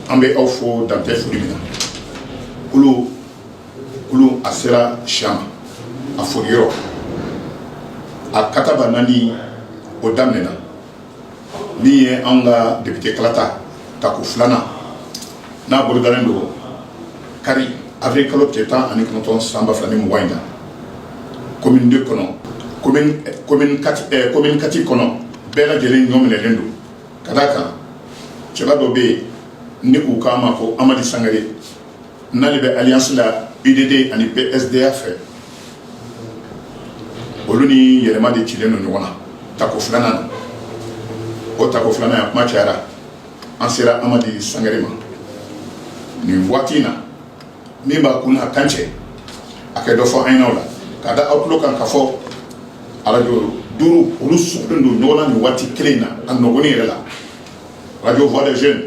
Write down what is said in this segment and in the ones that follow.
an bɛ aw fo dantɛ foli min na kulu kulu a sera siya ma a foli yɔrɔ a kataba naani o daminɛna min ye an ka depite kalata tako filanan n'a bolodalen don kari avril kalo tile tan ani kɔnɔntɔn san ba fila ni mugan in na commune deux kɔnɔ commune quatre kɔnɔ bɛɛ lajɛlen ɲɔminɛlen don Ka d'a kan cɛba dɔ bɛ yen ni k'u k'a ma ko amadi sangare n'ale bɛ alliance la UDD ani PSDA fɛ olu ni yɛlɛma de cilen don ɲɔgɔn na tako filanan o tako filanan a kuma cayara an sera amadi sangare ma nin waati in na min b'a kun a kan cɛ a kɛ dɔ fɔ an ɲɛ na o la k'a da aw tulo kan ka fɔ arajo duuru olu sɔgɔlen don ɲɔgɔn na nin waati kelen in na a nɔgɔni yɛrɛ la arajo voix des jeunes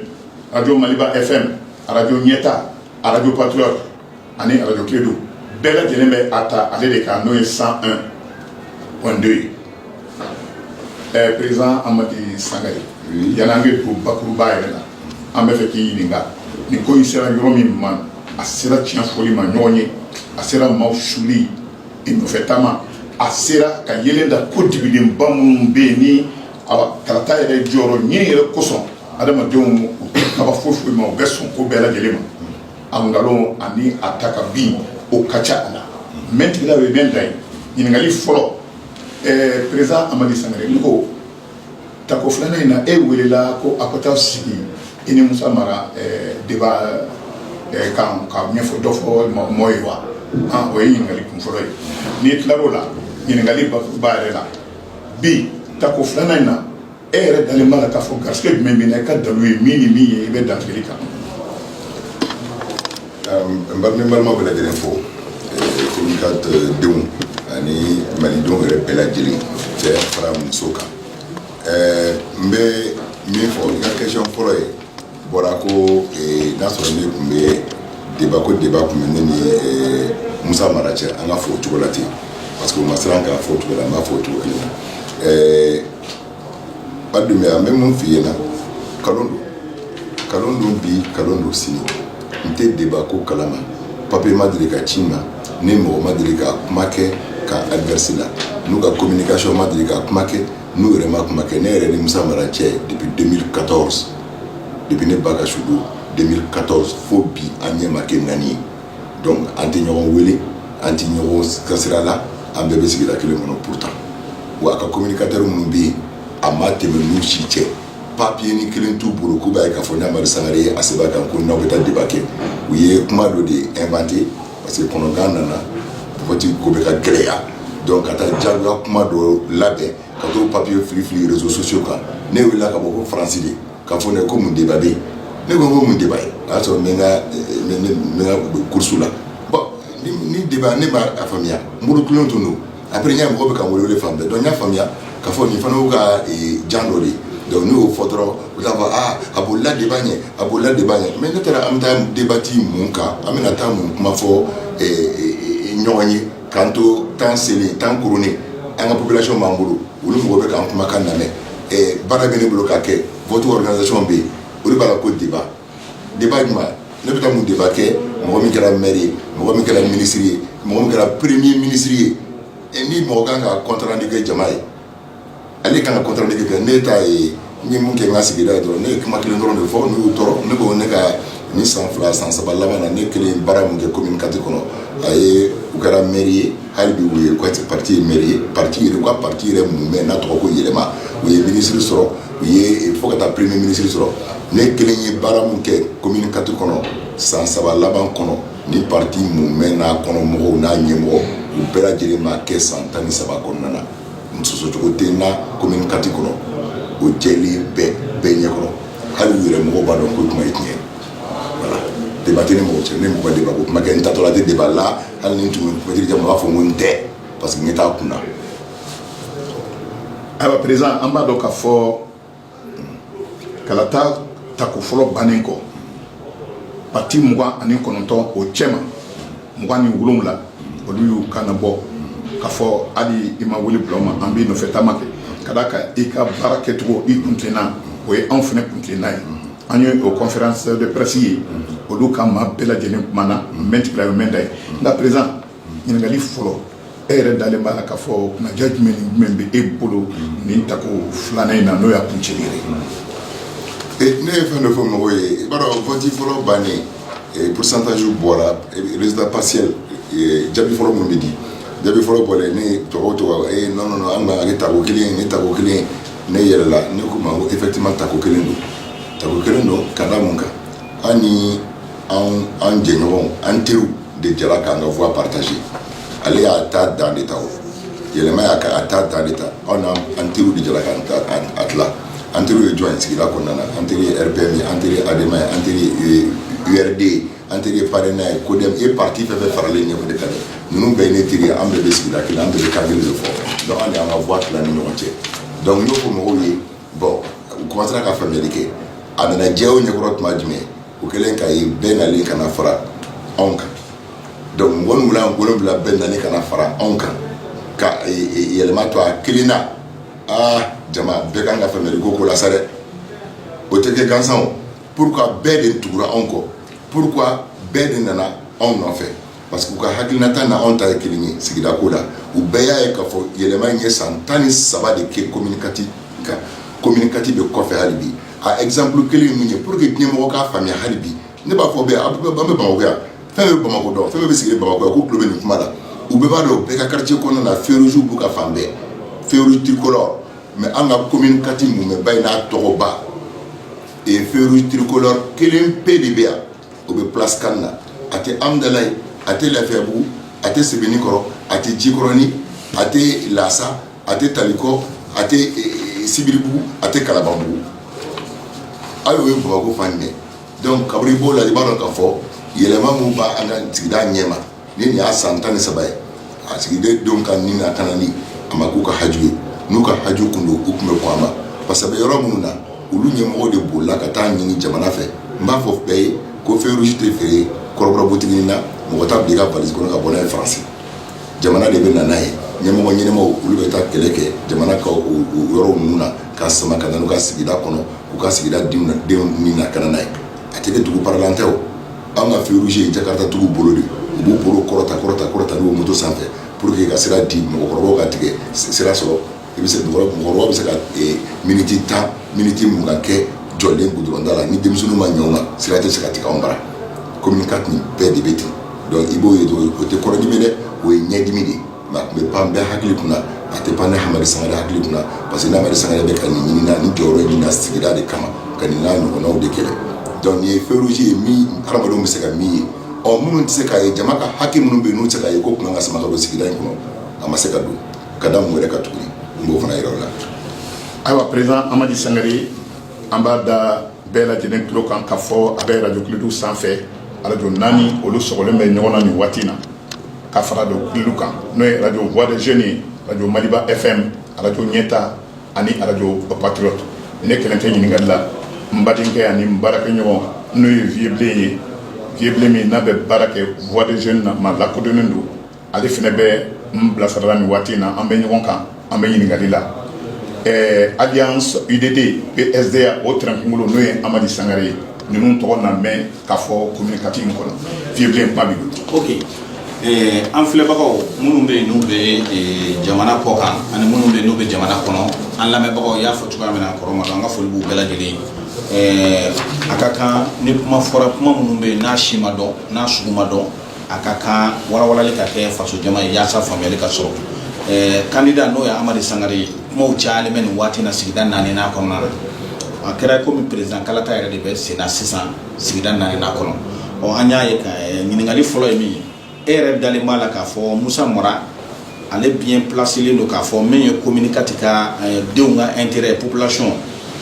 arajo maliba fm arajo ɲɛta arajo patriote ani arajo kledu bɛɛ lajɛlen bɛ a ta ale de kan n'o ye 101.2 ye ɛɛ président amadi sangare yann'an ka don bakuruba yɛrɛ la an bɛ fɛ k'i ɲininka nin ko in sera yɔrɔ min ma a sera tiɲɛ fɔli ma ɲɔgɔn ye a sera maaw suli i nɔfɛ taama a sera ka yelen da ko dibidenba minnu bɛ yen ni kalata yɛrɛ jɔyɔrɔ ɲini yɛrɛ kosɔn adamadenw u tɛ kaba foyi foyi ma u bɛ sɔn ko bɛɛ lajɛlen ma a nkalon ani a ta ka bin o ka ca a la mɛntigila o ye mɛn da ye ɲininkali fɔlɔ ɛɛ président amadi sangare n ko tako filanan in na e welela ko a ka taa sigi i ni musa mara débat kan ka ɲɛfɔ dɔ fɔ mɔ ye wa o ye ɲininkali kun fɔlɔ ye n'i tilar'o la ɲininkali ba yɛrɛ la bi tako filanan in na e yɛrɛ dalen b'a la k'a fɔ garisɛgɛ jumɛn bɛ na i ka dalu ye min ni min ye i bɛ dantigɛli kan n bari ni balima bɛɛ lajɛlen fo commune quatre denw ani malidenw yɛrɛ bɛɛ lajɛlen cɛ fara muso kan n bɛ min fɔ i ka question fɔlɔ ye bɔra ko n'a sɔrɔ ne tun bɛ débat ko débat tun bɛ ne ni musa mara cɛ an ka fɔ o cogo la ten parce que o ma siran k'a fɔ o cogo la n b'a fɔ o cogo kelen na Badri an bɛ mun f' i ɲɛna nkalon don nkalon don bi nkalon don sini n tɛ débat ko kala ma papier ma deli ka ci n ma ni mɔgɔ ma deli ka kuma kɛ camp adverse la n'u ka communication ma deli ka kuma kɛ n'u yɛrɛ ma kuma kɛ ne yɛrɛ ni Musa Mara cɛ depuis 2014 depuis ne ba ka su don 2014 fo bi an ɲɛ ma kɛ naani ye donc an tɛ ɲɔgɔn wele an tɛ ɲɔgɔn ka sira la an bɛɛ bɛ sigida kelen kɔnɔ pourtant wa a ka communicateur minnu bɛ yen a ma tɛmɛ n'u si cɛ papiye ni kelen t'u bolo k'u b'a ye k'a fɔ ni amadi sangare ye a sɛbɛn kan ko n'aw bɛ taa débat kɛ u ye kuma dɔ de inventer parce que kɔnɔgan nana vote ko bɛ ka gɛlɛya donc ka taa jagoya kuma dɔ labɛn ka t'o papiye fili fili réseaux sociaux kan ne wulila ka bɔ ko faransi de K'a fɔ ne ko mun débat ne ko ko mun débat ye o y'a sɔrɔ n bɛ course la ni débat ne m'a faamuya n murutilen tun don après n y'a ye mɔgɔ bɛ ka n wele fan bɛɛ donc n y'a faamuya k'a fɔ nin fana y'u ka jan dɔ de ye donc n'u y'o fɔ dɔrɔn u t'a fɔ aa a bolila débat ɲɛ a bolila débat ɲɛ mais ne taara an bɛ taa débati mun kan an bɛna taa mun kuma fɔ ɲɔgɔn ye K'an to temps selen temps kurunnen an ka population b'an bolo olu mɔgɔw bɛ k'an kumakan lamɛn baara bɛ ne bolo ka kɛ vote organisation bɛ yen olu b'a la ko débat débat jumɛn ne bɛ taa mun débat kɛ mɔgɔ min kɛra maire ye mɔgɔ min kɛra ministre ye mɔgɔ min kɛra premier ministre ye ni mɔgɔ kan ka compte rendu kɛ jama ye Ale kan ka compte rendu kɛ ne ta ye n ye mun kɛ n ka sigida ye dɔrɔn ne ye kuma kelen dɔrɔn de fɔ n'o y'u tɔɔrɔ ne ko ne ka ni san fila san saba laban na ne kelen baara min kɛ commune quatre kɔnɔ a ye u kɛra maire ye hali bi u ka pati ye maire ye pati ye u ka pati yɛrɛ min bɛ yen n'a tɔgɔ ko yɛlɛma u ye ministre sɔrɔ u ye fo ka taa premier ministre sɔrɔ ne kelen ye baara min kɛ commune quatre kɔnɔ san saba laban kɔnɔ ni pati min bɛ yen n'a kɔnɔ mɔgɔw n'a ɲɛmɔgɔ u bɛɛ lajɛlen m'a kɛ san tan ni saba kɔnɔna na n sɔsɔcogo tɛ n na commune quatre kɔnɔ o jɛlen bɛ bɛɛ ɲɛkɔrɔ hali u yɛrɛ mɔgɔw b'a dɔn ko kuma ye tiɲɛ ye voilà débat tɛ ne mɔgɔ cɛ ne mɔgɔ débat ko kuma kɛ n taatɔla tɛ débat la hali ni n tun bɛ maitre Jamu na n b'a fɔ ko n tɛ parce que n ɲɛ t'a kun na ayiwa président an b'a dɔn k'a fɔ kalata tako fɔlɔ bannen kɔ pati mugan ani kɔnɔntɔn o cɛma mugan ni wolowula olu y'u kan bɔ k'a fɔ hali i ma wele bila u ma an b'i nɔfɛ taama kɛ ka d'a kan i ka baara kɛcogo i kuntilenna o ye anw fana kuntilenna ye an ye o conférence de presse ye olu ka maa bɛɛ lajɛlen kumana meeting la y'o mɛnda ye nka président Ɲininkali fɔlɔ e yɛrɛ dalen b'a la k'a fɔ kunnadiya jumɛn ni jumɛn bɛ e bolo nin tako filanan in na n'o y'a kuncɛli ye ne ye fɛn dɔ fɔ mɔgɔw ye i b'a dɔn vote fɔlɔ bannen pourcentage bɔra résultat partiel jaabi fɔlɔ minnu bɛ di jaabi fɔlɔ bɔra ne tɔgɔ tɔgɔ e non an tako kelen ne tako kelen ne yɛlɛla ne ko u ma ko effectivement tako kelen don tako kelen don ka da mun kan an ni an jɛɲɔgɔn an teri de jɛra k'an ka voix partager ale y'a ta dan de ta o yɛlɛma y'a ka a ta dan de ta anw n'an teriw de jɛra k'an ta a tila an teriw ye jɔn ye sigida kɔnɔna na an teri ye RPM ye an teri ye ADEMA ye an teri ye URD ye an teri ye PARENA ye CODEM ye parti fɛn fɛn faralen ɲɛfɛ de ka di ninnu bɛɛ ye ne teri ye an bɛɛ bɛ sigida kelen an bɛɛ bɛ kan kelen de fɔ donc an de y'an ka voix tila ni ɲɔgɔn cɛ donc n y'o fɔ mɔgɔw ye bon u commencera ka faamuyali kɛ a nana jɛya o ɲɛkɔrɔ tuma jumɛn o kɛlen ka ye bɛɛ nalen ka na fara anw kan donc mɔgɔ min wulila wolonwula bɛɛ nalen ka na fara anw kan ka e, e, yɛlɛma to a kelen na aa jama bɛɛ kan ka faamuyali kɛ ko la sa dɛ o tɛ kɛ gansan o pourquoi bɛɛ de tugura anw kɔ pourquoi bɛɛ de nana anw nɔfɛ parce que u ka hakilinata ni anw ta ye kelen ye sigida ko la, u bɛɛ y'a ye k'a fɔ yɛlɛma in ye san 13 de kɛ commune IV kan, commune IV bɛ kɔfɛ hali bi, a exemple kelen ye min ye pour que diɲɛmɔgɔ k'a faamuya hali bi, ne b'a fɔ bɛɛ an bɛ Bamakɔ yan, fɛn o fɛn bɛ Bamakɔ dɔn, fɛn o fɛn bɛ sigilen Bamakɔ yan k'u tulo bɛ nin kuma la, u bɛɛ b'a dɔn u bɛɛ ka quartier kɔnɔna na feux rouges b'u ka fan bɛɛ, feux rouges tricolores mais an ka commune IV mumɛba in n'a tɔgɔba feux rouges tricolores kelen pe de bɛ yan o bɛ place CAN na a tɛ Hamdallaye a tɛ Lafiyabugu a tɛ Sebeninkɔrɔ a tɛ Jikɔrɔnin a tɛ Lasa a tɛ Taliko a tɛ Sibiribugu a tɛ Kalabanbugu aw ye Bamakɔ fan minɛ donc kabini i b'o lajɛ i b'a dɔn k'a fɔ yɛlɛma min b' an ka sigida ɲɛ ma ni nin y'a san tan ni saba ye a sigida denw ka ni lakanani a ma k'u ka haju ye n'u ka haju tun don u tun bɛ kɔn a ma parce que yɔrɔ minnu na olu ɲɛmɔgɔ de bolila ka taa ɲini jamana fɛ n b'a fɔ bɛɛ ye ko feu rouge tɛ feere kɔrɔbɔrɔbutigi na mɔgɔ t'a bila i ka valise kɔnɔ ka bɔ n'a ye faransi jamana de bɛ na n'a ye ɲɛmɔgɔ ɲɛnamaw olu bɛ taa kɛlɛ kɛ jamana ka yɔrɔ ninnu na k'a sama ka n'u ka sigida kɔnɔ k'u ka sigida denw ni lakana n'a ye a tɛ dugu paralan tɛ o Anw ka feu rouge ye Jakarta tigiw bolo de ye. U b'u bolo kɔrɔta kɔrɔta kɔrɔta n'u ye moto sanfɛ pour que ka sira di mɔgɔkɔrɔbaw ka tigɛ sira sɔrɔ. I bɛ se mɔgɔkɔrɔbaw bɛ se ka minutes 10 minutes 20 kɛ jɔlen goudron da la ni denmisɛnninw ma ɲɛ u ma sira tɛ se ka tigɛ anw bara. Commune IV nin bɛɛ de bɛ ten donc i b'o ye dɔrɔn o tɛ kɔnɔdimi ye dɛ, o ye ɲɛdimi de ye. Nka a tun bɛ pan bɛɛ hakili kunna a tɛ pan ne Hamadi Sangare hakili kunna parce que Hamadi Sangare bɛ ka nin ɲini nin jɔyɔrɔ ɲini na sigida de kama ka nin n'a ɲɔgɔnnaw de kɛlɛ donc nin ye feu rouge ye min hadamadenw bɛ se ka min ye ɔ minnu tɛ se k'a ye jama ka hakɛ minnu bɛ yen n'u tɛ se k'a ye ko kun k'a sama ka don sigida in kɔnɔ a ma se ka don ka da mun wɛrɛ ka tuguni n b'o fana yira aw la ayiwa président Hamadi Sangare an b'a da bɛɛ lajɛlen tulo kan k'a fɔ a bɛ arajo Kiledu sanfɛ arajo naani olu sɔgɔlen bɛ ɲɔgɔn na nin waati in na ka fara dɔw kulu kan n'o ye arajo Voix des Jeunes ye arajo maliba FM arajo ɲɛta ani arajo Patriote ne kelen tɛ ɲininkali la n badenkɛ ani n baarakɛɲɔgɔn n'o ye Vieux Blen ye Vieux Blen min n'a bɛ baara kɛ Voix des Jeunes na maa lakodɔnnen don ale fana bɛ n bilasirala nin waati in na an bɛ ɲɔgɔn kan an bɛ ɲininkali la ɛɛ Alliance UDD PSDA o tɛrɛnkunkolo n'o ye hamadi sangare ye ninnu tɔgɔ na mɛn k'a fɔ komini kati in kɔnɔ Vieux kuma b'i bolo an filɛbagaw minnu bɛ yen n'u bɛ jamana kɔ kan ani minnu bɛ n'u bɛ jamana kɔnɔ an lamɛnbagaw y'a fɔ cogoya min kɔrɔ ma dɔn an ka foli b'u bɛɛ lajɛlen ye a ka kan ni kuma fɔra kuma minnu bɛ yen n'a si ma dɔn n'a sugu ma dɔn a ka kan walawalali ka kɛ faso jama ye walasa faamuyali ka sɔrɔ kandida n'o ye hamadi sangare ye kuma cayalen bɛ nin waati na sigida naani n'a kɔnɔna la a kɛra kɔmi perezidan kalata yɛrɛ de bɛ sen na sisan sigida naani n'a kɔnɔ ɔ an y'a ye ɲininkali fɔlɔ ye min ye e yɛrɛ dalen b'a la k'a fɔ musa mara ale bien placélen don k'a fɔ min ye komini kati ka denw ka intérêt population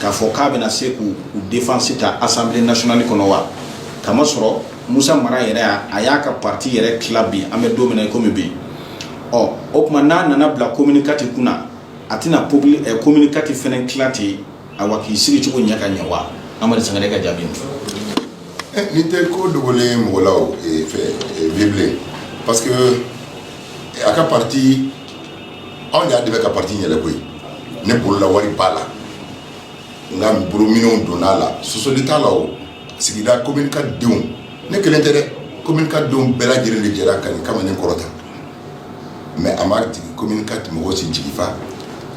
k'a fɔ k'a bɛna se k'u défense ta assemblée nationale kɔnɔ wa ka sɔrɔ musa mara yɛrɛ a y'a ka pati yɛrɛ tila bi an bɛ don min na kɔmi bi ɔ o tuma n'a nana bila komini kati kunna a tɛna komini kati fɛnɛ tila ten awa k'i sigi cogo ɲɛ ka ɲɛ wa hamadi sangare ka jaabi eh, nin tɛ ko dogolen mɔgɔ la eh, Vieux Blen parce que a ka pati anw y'a dɛmɛ ka pati yɛlɛ koyi ne bolola wari b'a la n ka bolominɛnw donna a la sɔsɔli t'a la o sigida komini kati denw ne kelen tɛ komini kati denw bɛɛ lajɛlen de jɛra ka kamalen kɔrɔta mɛ a ma jigin komini kati mɔgɔ si jigi fa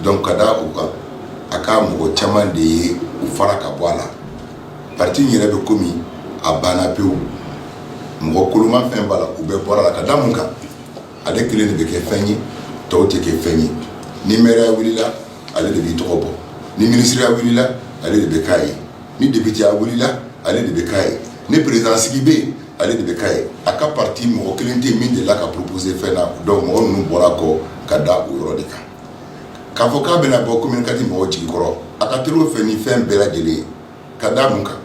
dɔn ka da o kan a ka mɔgɔ caman de ye u fara ka bɔ a la pati yɛrɛ bɛ komi a banna pewu mɔgɔ koloma fɛn b'a la u bɛɛ bɔra la ka da mun kan ale kelen de bɛ kɛ fɛn ye tɔw tɛ kɛ fɛn ye ni mɛrɛya wulila ale de b'i tɔgɔ bɔ ni minisiriya wulila ale de bɛ k'a ye ni depiteya wulila ale de bɛ k'a ye ni perezidan sigi bɛ yen ale de bɛ k'a ye a ka pati mɔgɔ kelen tɛ min delila ka proposer fɛn na dɔn mɔgɔ ninnu bɔra kɔ ka da o yɔrɔ de kan k'a fɔ k'a bɛna bɔ komini kati mɔgɔ jigi kɔrɔ a ka teli o fɛ ni fɛn bɛɛ lajɛlen ye ka da mun kan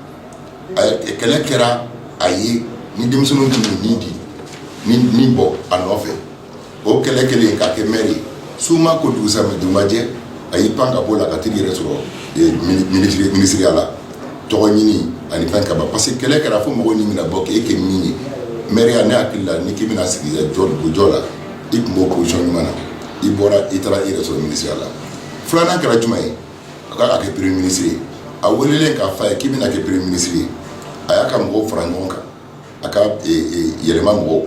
kɛlɛ kɛra a ye ni denmisɛnninw tun min di ni min bɔ a nɔfɛ O kɛlɛ kɛlen k'a kɛ mɛri ye su ma ko dugusa ma jɛ a y'i pan ka bɔ la ka t'i yɛrɛ sɔrɔ minisiriya la tɔgɔ ɲini ani fɛn kama parce que kɛlɛ kɛra fo mɔgɔw ni bɛna bɔ k'e kɛ min ye mɛriya ne hakili la ni k'i bɛna sigi jɔyɔrɔ la i tun b'o position ɲuman na i bɔra i taara i yɛrɛ sɔrɔ minisiriya la filanan kɛra jumɛn ye a k'a ka kɛ premier ministre ye a welelen k'a f'a ye k'i bɛna kɛ premier ministre ye a y'a ka mɔgɔw fara ɲɔgɔn kan a ka yɛlɛma mɔgɔw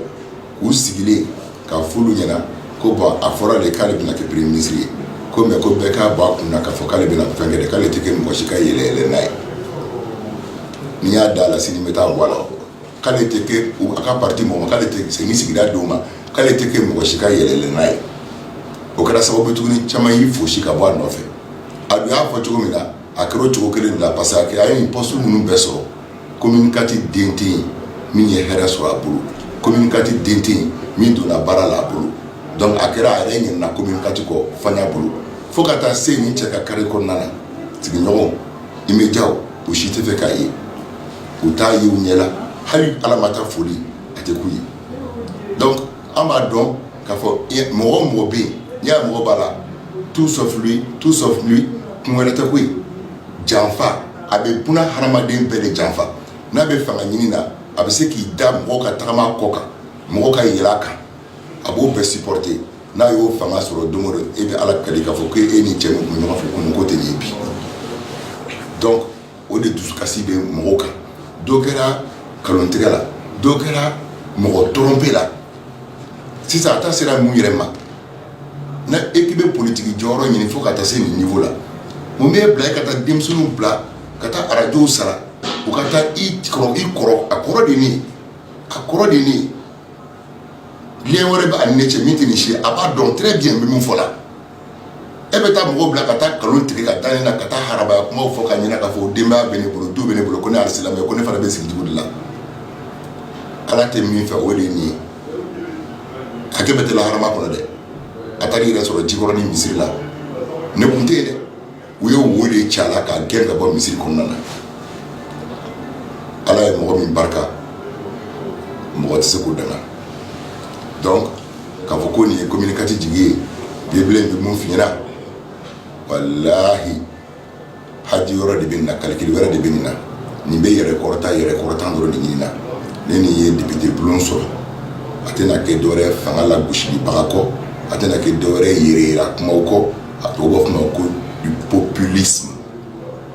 k'u sigilen k'a f'olu ɲɛna ko bon a fɔra de k'ale bɛna kɛ premier ministre ye ko mais ko bɛɛ k'a bɔ a kun na k'a fɔ k'ale bɛna fɛn kɛ k'ale tɛ kɛ mɔgɔ si ka yɛlɛyɛlɛnan ye n'i y'a da a la sini bɛ taa bɔ a la k'ale tɛ a ka pati mɔgɔ k'ale tɛ segin sigida denw ma k'ale tɛ kɛ mɔgɔ si ka yɛlɛyɛlɛnan ye o kɛra sababu tuguni caman y'i fosi ka bɔ a nɔfɛ a y'a fɔ cogo min na a kɛra o cogo kelen la parce que a ye nin postew minnu bɛɛ sɔrɔ commune IV den tɛ yen min ye hɛrɛ sɔrɔ a bolo, commune IV den tɛ yen min donna baara la a bolo donc a kɛra a yɛrɛ ɲinɛna commune IV kɔ fanga bolo fo ka taa se nin cɛ ka carré kɔnɔna na sigiɲɔgɔnw immédiat u si tɛ fɛ k'a ye u t'a ye u ɲɛ la hali Ala ma taa foli a tɛ k'u ye donc an b'a dɔn k'a fɔ mɔgɔ o mɔgɔ bɛ yen n'i y'a mɔgɔ b'a la tout sauf lui kun wɛrɛ tɛ koyi janfa a bɛ buna hadamaden bɛɛ de janfa n'a bɛ fanga ɲini na a bɛ se k'i da mɔgɔ ka tagama kɔ kan mɔgɔ ka yɛlɛ a kan a b'o bɛɛ supporter n'a y'o fanga sɔrɔ don o don e bɛ ala kali k'a fɔ k' e ni cɛ min tun bɛ ɲɔgɔn fɛ ko tɛ nin ye bi o de dusukasi bɛ mɔgɔw kan dɔ kɛra nkalontigɛ la dɔ kɛra mɔgɔ tromper la sisan a ta sera mun yɛrɛ ma n'e k'i bɛ politigi jɔyɔrɔ ɲini fo ka taa se nin niveau la mun b'i bila e ka taa denmisɛnninw bila ka taa arajow sara u ka taa i kɔrɔ i kɔrɔ a kɔrɔ de ne a kɔrɔ de ne lien wɛrɛ b'a ni ne cɛ min tɛ nin si a b'a dɔn très bien n bɛ min fɔ la e bɛ taa mɔgɔw bila ka taa nkalon tigɛ ka da ne na ka taa harabaya kumaw fɔ ka ɲina k'a fɔ denbaya bɛ ne bolo du bɛ ne bolo ko ne alisilamɛ ko ne fana bɛ sigi dugu de la ala tɛ min fɛ o de ye nin ye hakɛ bɛɛ tɛ lahara makɔnɔ dɛ a taara i yɛrɛ sɔrɔ Jikɔrɔni misiri la ne tun tɛ yen dɛ u ye wo de ci a la k'a gɛn ka bɔ misiri kɔnɔna na ala ye mɔgɔ min barika mɔgɔ tɛ se k'o danga donc k'a fɔ ko nin ye commune IV jigi ye bibele bɛ min f'i ɲɛna walahi haju wɛrɛ de bɛ nin na calcul wɛrɛ de bɛ nin na nin bɛ yɛrɛ kɔrɔta yɛrɛ kɔrɔta dɔrɔn de ɲini na ni nin ye depite bulon sɔrɔ a tɛna kɛ dɔwɛrɛ fanga lagosibaga kɔ a tɛna kɛ dɔwɛrɛ yɛrɛ kumaw kɔ a tɔgɔ b'a fɔ ma ko du populisme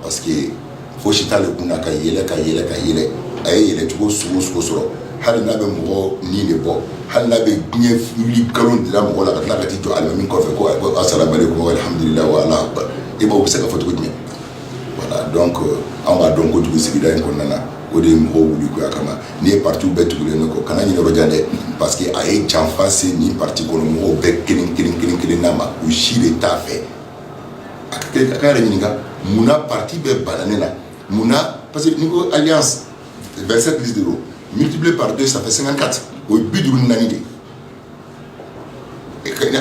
parce que fosi t'ale kun na ka yɛlɛ ka yɛlɛ ka yɛlɛ a ye yɛlɛ cogo sugu o sugu sɔrɔ hali n'a bɛ mɔgɔ ni de bɔ hali n'a bɛ diɲɛ wuli nkalon de da mɔgɔ la ka tila ka t'i jɔ alimami kɔfɛ ko asalamualekum wa alhamdulilahi wa Alahu akbar e b'o bɛ se ka fɔ cogo jumɛn Voilà donc an b'a dɔn kojugu sigida in kɔnɔna na o de ye mɔgɔw wuli koya kama n'i ye parti bɛɛ tugulen ne kɔ kana ɲinɛ yɔrɔjan dɛ parce que a ye janfa se nin parti kɔnɔ mɔgɔw bɛɛ kelen- kelen- kelen- kelen na ma u si de t'a fɛ a k'a yɛrɛ ɲininka munna parti bɛɛ banna ne na munna parce que n'i ko alliance vingt-sept listes de multiplié par deux ça fait cinquante-quatre o ye biduuru ni naani de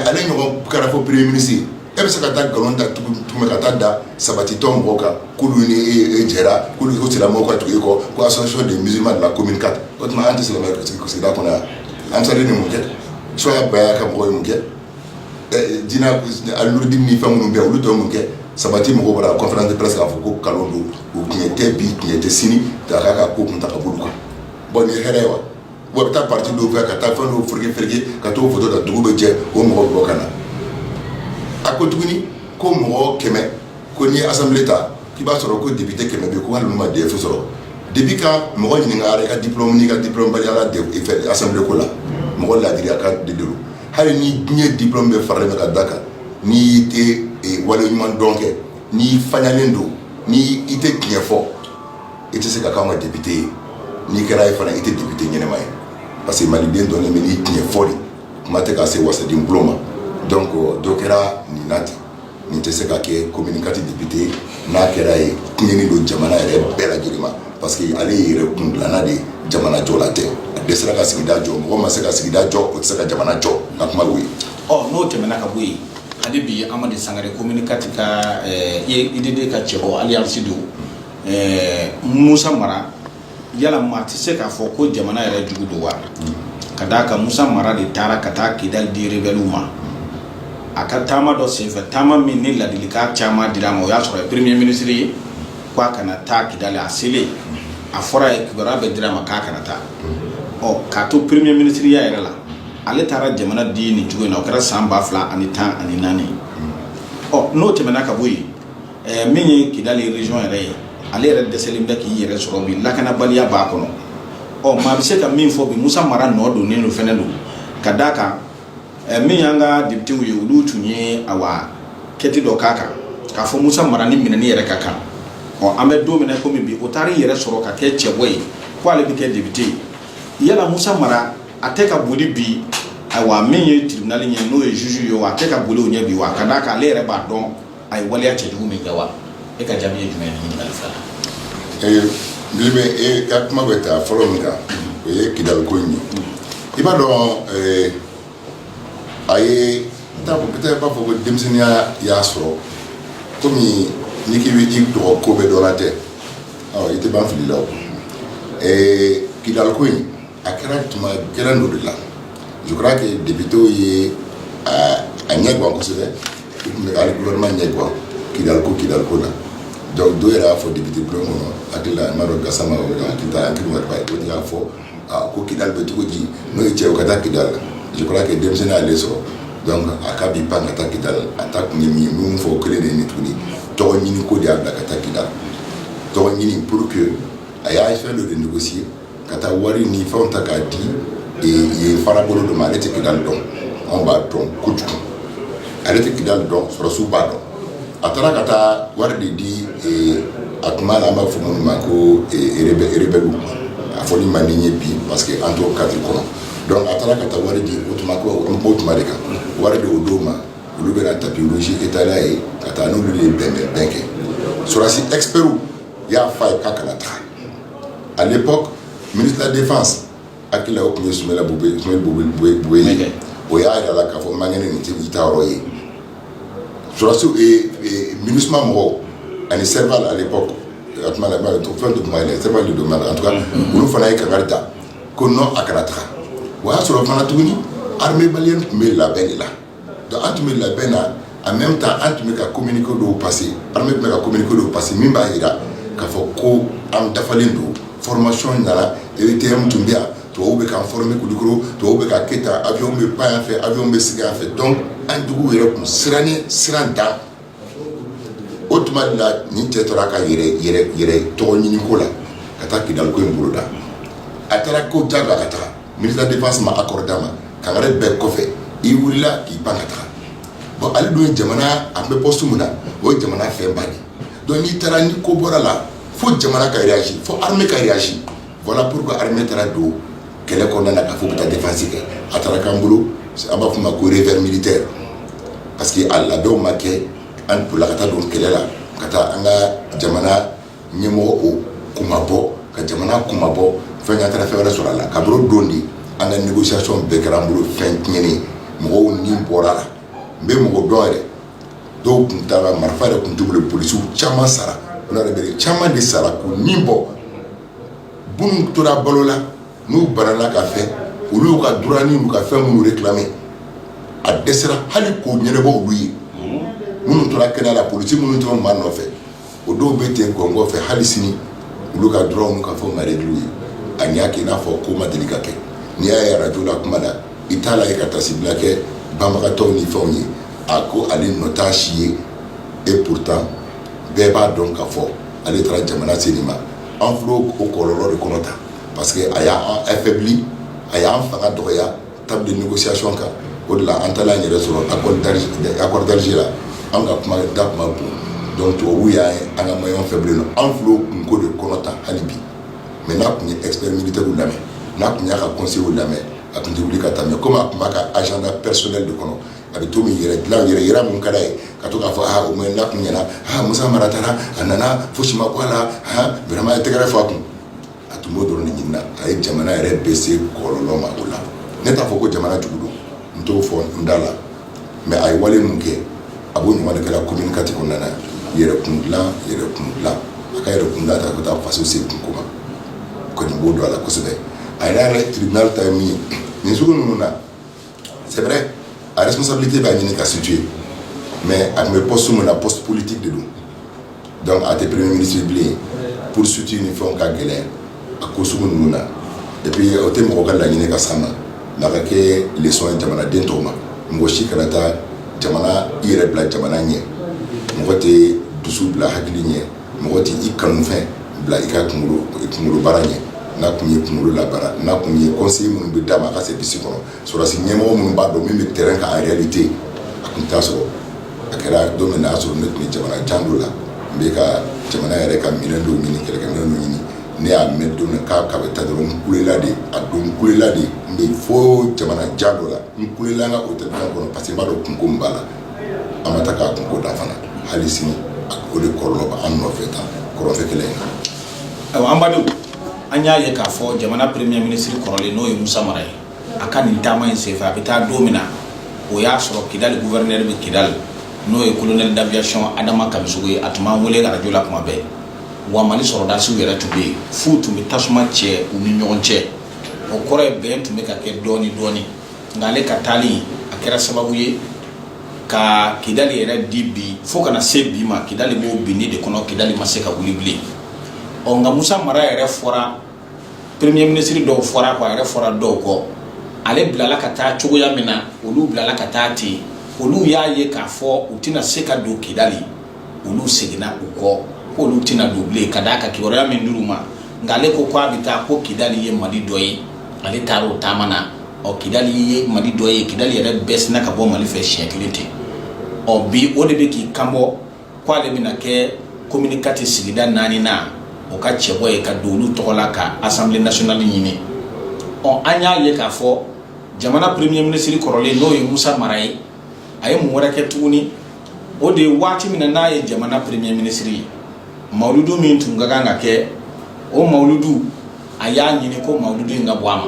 ale ɲɔgɔn kɛra fo premier ministre e bɛ se ka taa nkalon da tugu tuguni ka taa da Sabati tɔn mɔgɔw kan k'olu ni e jɛra k'olu silamɛw ka tugu e kɔ ko association des musulmans de la commune quatre o tuma an tɛ silamɛ sigida kɔnɔ yan Ansardine ye mun kɛ so ka ba ka mɔgɔ ye mun kɛ jinɛdi ni fɛn minnu bɛ yen olu dɔw mun kɛ sabati mɔgɔw bɔra conférence de presse k'a fɔ ko nkalon don o tiɲɛ tɛ bi tiɲɛ tɛ sini ta k'a ka ko kun ta ka bolo kan bon nin ye hɛrɛ ye wa Wa bɛ taa parti dɔw fɛ ka taa fɛn dɔw fereke ka t'o photo ta dugu bɛ jɛ o mɔgɔ bɛ bɔ ka na a ko tuguni ko mɔgɔ kɛmɛ ko n'i ye assemblée ta i b'a sɔrɔ ko député kɛmɛ bɛ ko hali u ma DEF sɔrɔ depuis quand mɔgɔ ɲininka a ka diplôme n'i ka diplômebaliya fɛ assemblée ko la mɔgɔ ladiriya ko de don hali ni diɲɛ diplôme bɛɛ faralen bɛ ka da kan ni i tɛ waleɲuman dɔn kɛ n'i fanyalen don ni i tɛ tiɲɛ fɔ i tɛ se ka k'anw ka député ye n'i kɛra ye fana i tɛ député ɲɛnama ye parce que maliden dɔnnen bɛ n'i tiɲɛ fɔ de kuma tɛ ka se wasaden bulon ma donc dɔ kɛra nin na ten nin tɛ se ka kɛ commune quatre député n'a kɛra ye tiɲɛni don jamana yɛrɛ bɛɛ lajɛlen ma parce que ale ye yɛrɛ kundilanna de ye jamana jɔla tɛ a dɛsɛra ka sigida jɔ mɔgɔ ma se ka sigida jɔ o tɛ se ka jamana jɔ n ka kuma y'o ye ɔ n'o tɛmɛna ka bɔ yen hali bi amadu sangare commune quatre ka ɛɛ UDD ka cɛbɔ alliance don ɛɛ Musa Mara yala maa tɛ se k'a fɔ ko jamana yɛrɛ jugu don wa? ka d'a kan Musa Mara de taara ka taa Kidali di rebelles ma, a ka taama dɔ senfɛ taama min ni ladilikan caman dira a ma, o y'a sɔrɔ a ye premier ministre ye k'a kana taa Kidali, a selen a fɔra a ye kibaruya bɛɛ dira a ma k'a kana taa, ɔ k'a to premier ministre ya yɛrɛ la, ale taara jamana di nin cogo in na, o kɛra san 2014 ɔ n'o tɛmɛna ka bɔ yen min ye kidali region yɛrɛ ye ale yɛrɛ dɛsɛlen bɛ k'i yɛrɛ sɔrɔ bi lakanabaliya b'a kɔnɔ ɔ maa bɛ se ka min fɔ bi Musa Mara nɔ donnen don fɛnɛ don ka d'a kan min y'an ka députés ye olu tun ye enquête dɔ k'a kan k'a fɔ Musa Mara ni minɛni yɛrɛ ka kan ɔ an bɛ don min na komi bi o taar'i yɛrɛ sɔrɔ ka kɛ cɛbɔ ye ko ale bɛ kɛ député ye yala Musa Mara a tɛ ka boli bi ayiwa min ye tribunal ɲɛ n'o ye juge ye wa a tɛ ka boli o ɲɛ bi wa ka d'a kan ale yɛrɛ b'a dɔn a ye waleya cɛjugu min kɛ wa e ka jaabi ye jumɛn ye ɲininkali fila ee n bɛ e ka kuma bɛ taa fɔlɔ min kan o ye kidali ko in ye i b'a dɔn a ye n t'a fɔ peut-être b'a fɔ ko denmisɛnninya y'a sɔrɔ komi n'i k'i bɛ i tɔgɔ ko bɛɛ dɔnna tɛ ɔ i tɛ ban fili la o ee kidali ko in a kɛra tuma gɛlɛn dɔ de la je crois que députés ye a ɲɛ gan kosɛbɛ u tun bɛ ka hali gouvernement ɲɛ gan Kidal ko Kidal ko la donc dɔw yɛrɛ y'a fɔ député bulon kɔnɔ hakili la Mamadou Gassama o bɛ ka hakili ta hakili ma ba ye o de y'a fɔ aa ko Kidal bɛ cogo di n'o ye cɛ o ka taa Kidal je crois que denmisɛnnin y'ale sɔrɔ donc a k'a b'i pan ka taa Kidal a taa kun ye min ye min fɔ o kelen de ye nin tuguni tɔgɔ ɲini ko de y'a bila ka taa Kidal tɔgɔ ɲini pour que a y'a fɛn dɔ de négocier ka taa wari ni fɛnw ta k'a di yen fara bolo dɔ ma ale tɛ kidali dɔn anw b'a dɔn kojugu ale tɛ kidali dɔn sɔrɔsiw b'a dɔn a taara ka taa wari de di a tuma la an b'a fɔ minnu ma ko rebelles a fɔli man di n ye bi parce que an t'o cadre kɔnɔ donc a taara ka taa wari di o tuma ko an b'o tuma de kan wari de o don ma olu bɛna tapis rouge étaler a ye ka taa n'olu de ye bɛnbɛnbɛn kɛ sɔrɔsi experts y'a fɔ a ye k'a kana taga A bɛ pan minitan de fan a tun ye sun ye o y'a jira la k'a fɔ man kelen ni ta yɔrɔ ye susiw mini mɔgɔw ani se ale a bɛ to fɛn tun ye se don la olu fana ye kanga ta ko n a kɛra ta o y'a sɔrɔ fana tuguni halibali tun bɛ labɛn de la Donc an tun bɛ labɛn na en même temps an tun bɛ ka communiqués dɔw passer armée tun bɛ ka communiqués dɔw passer min b'a jira k'a fɔ ko an dafalen don formation nana EUTM tun bɛ yan tubabuw bɛ k'an former Kulikoro tubabuw bɛ ka kɛ tan avion bɛ pan yan fɛ avion bɛ sigi yan fɛ donc an juguw yɛrɛ tun sirannen siran dan o tuma de la nin cɛ tora k'a yɛrɛ tɔgɔ ɲini ko la ka taa Kidal ko in boloda a taara ko jagoya ka taa ministre de la défense ma accord d'a ma kangari bɛɛ kɔfɛ i wulila k'i pan ka taa bon ale dun ye jamana a bɛ poste min na o ye jamana fɛnba de donc n'i taara ni ko bɔra la fo jamana ka réagir fo armée ka Voilà pourquoi armée taara don kɛlɛ kɔnɔna na k'a fɔ u bɛ taa défense kɛ, a taara k'an bolo an b'a fɔ min ma ko revers militaire parce que a labɛnw ma kɛ an bolila ka taa don kɛlɛ la ka taa an ka jamana ɲɛmɔgɔw kunmabɔ ka jamana kunmabɔ fɛn kɛ an taara fɛn wɛrɛ sɔrɔ a la kabini o don de an ka négociation bɛɛ kɛra an bolo fɛn tiɲɛnen mɔgɔw ni bɔra a la n bɛ mɔgɔ dɔn yɛrɛ dɔw tun taara marifa yɛrɛ tun t'u bolo polisiw caman sara yɛrɛ caman de sara k'u ni bɔ minnu tora balo la n'u banana ka fɛn olu y'u ka droit n'u ka fɛn minnu réclamer a dɛsɛra hali k'o ɲɛnabɔ olu ye minnu tora kɛnɛ la polisi minnu tun b'a nɔfɛ o dɔw bɛ ten gɔngɔn fɛ hali sini olu ka droit n'u ka fɛnw ma régler u ye a y'a kɛ i n'a fɔ ko ma deli ka kɛ n'i y'a ye radio la kuma la i t'a la ye ka taasibila kɛ banbagatɔw ni fɛnw ye a ko ale nɔ t'a si ye et pourtant bɛɛ b'a dɔn k'a fɔ ale taara jamana se nin ma an filɛ o kɔlɔlɔ de kɔnɔ tan parce que a y'an affaibli a y'an fanga dɔgɔya table de négociation kan o de la an taala an yɛrɛ sɔrɔ accord d'Alge accord d'Alger la anw ka kuma da tun man bon donc tubabuw y'an ye an ka maillon faible ye anw fil'o kunko de kɔnɔ tan hali bi mais n'a tun ye expert militairew lamɛn n'a tun y'a ka conseilw lamɛn a tun tɛ wuli ka taa mais comme a tun b'a ka agenda personnel de kɔnɔ a bɛ to min yɛrɛ dilan yɛrɛ yira min ka d'a ye ka to k'a fɔ aa au moins n'a tun ɲɛna aa Musa Mara taara a nana fosi ma bɔ a la aa vraiment a ye tɛgɛrɛ fɔ a kun a tun b'o dɔrɔn de ɲini na a ye jamana yɛrɛ bɛɛ se kɔlɔlɔ ma o la ne t'a fɔ ko jamana jugu don n t'o fɔ n da la mais a ye wale min kɛ a b'o ɲɔgɔn de kɛ la commune quatre kɔnɔna na yɛrɛ kun dilan yɛrɛ kun dilan a ka yɛrɛ kun dilan ta ka taa faso se kunko ma kɔni b'o dɔn a la kosɛbɛ a yɛrɛ yɛrɛ tribunal ta ye min ye nin sugu ninnu na C'est vrai, a responsabilité b'a ɲini ka situer mais a tun bɛ poste min na poste politique de don donc a tɛ premier ministre ye bilen poursuite ni fɛnw ka gɛlɛn a ko sugu ninnu na et puis o tɛ mɔgɔ ka laɲini ka s'an ma mais a ka kɛ leçon ye jamanaden tɔw ma mɔgɔ si kana taa jamana i yɛrɛ bila jamana ɲɛ mɔgɔ tɛ dusu bila hakili ɲɛ mɔgɔ tɛ i kanufɛn bila i ka kunkolo baara ɲɛ n'a tun ye kunkolo labaara n'a tun ye conseil minnu bɛ d'a ma a ka service kɔnɔ sɔrɔsi ɲɛmɔgɔ minnu b'a dɔn min bɛ terrain kan en réalité a tun t'a sɔrɔ a kɛra don min y'a sɔrɔ ne tun bɛ jamana jan dɔ la n bɛ ka jamana yɛrɛ ka minɛn dɔw ɲini kɛlɛkɛminɛn dɔw ɲini ne y'a mɛn don min k'a bɛ taa dɔrɔn n kulela de a don n kulela de n bɛ fo jamana jan dɔ la n kulela n ka hôtel kɔnɔ parce que n b'a dɔn kunko min b'a la an bɛ taa k'a kunko da fana hali sini o de kɔlɔlɔ bɛ an nɔfɛ tan kɔrɔnfɛ kɛlɛ in na ayiwa an badenw an y'a ye k'a fɔ jamana premier ministre kɔrɔlen n'o ye Musa Mara ye a ka nin taama in senfɛ a bɛ taa don min na o y'a sɔrɔ Kidali gouverneur bɛ Kidali n'o ye colonel d'aviation Adama Kamisogo ye a tun b'an wele radio la tuma bɛɛ wa Mali sɔrɔdasiw yɛrɛ tun bɛ yen f'u tun bɛ tasuma cɛ u ni ɲɔgɔn cɛ o kɔrɔ ye bɛn tun bɛ ka kɛ dɔɔni dɔɔni nka ale ka taali a kɛra sababu ye ka kidali yɛrɛ di bi fo ka na se bi ma kidali b'o binni de kɔnɔ kidali ma se ka wuli bilen ɔ nka musa mara yɛrɛ fɔra premier ministre dɔw fɔr'a kɔ a yɛrɛ fɔra dɔw kɔ ale bilala ka taa cogoya min na olu bilala ka taa ten olu y'a ye k'a fɔ u tɛna se ka don kidali olu seginna u kɔ ko olu tɛna don bilen ka d'a kan kibaruya min dir'u ma nka ale ko k'a bɛ taa ko kidali ye mali dɔ ye ale taara o taama na ɔ kidali ye mali dɔ ye kidali yɛrɛ bɛɛ sinna ka bɔ mali fɛ siɲɛ kelen ten ɔ bi o de bɛ k'i kanbɔ k'ale bɛna kɛ commune quatre sigida naani na o ka cɛbɔ ye ka don olu tɔgɔ la ka assemblée nationale ɲini ɔ an y'a ye k'a fɔ jamana premier ministre kɔrɔlen n'o ye musa mara ye a ye mun wɛrɛ kɛ tuguni o de ye waati min na n'a ye jamana premier ministre ye mawuludu min tun ka kan ka kɛ o mawuludu a y'a ɲini ko mawuludu in ka bɔ a ma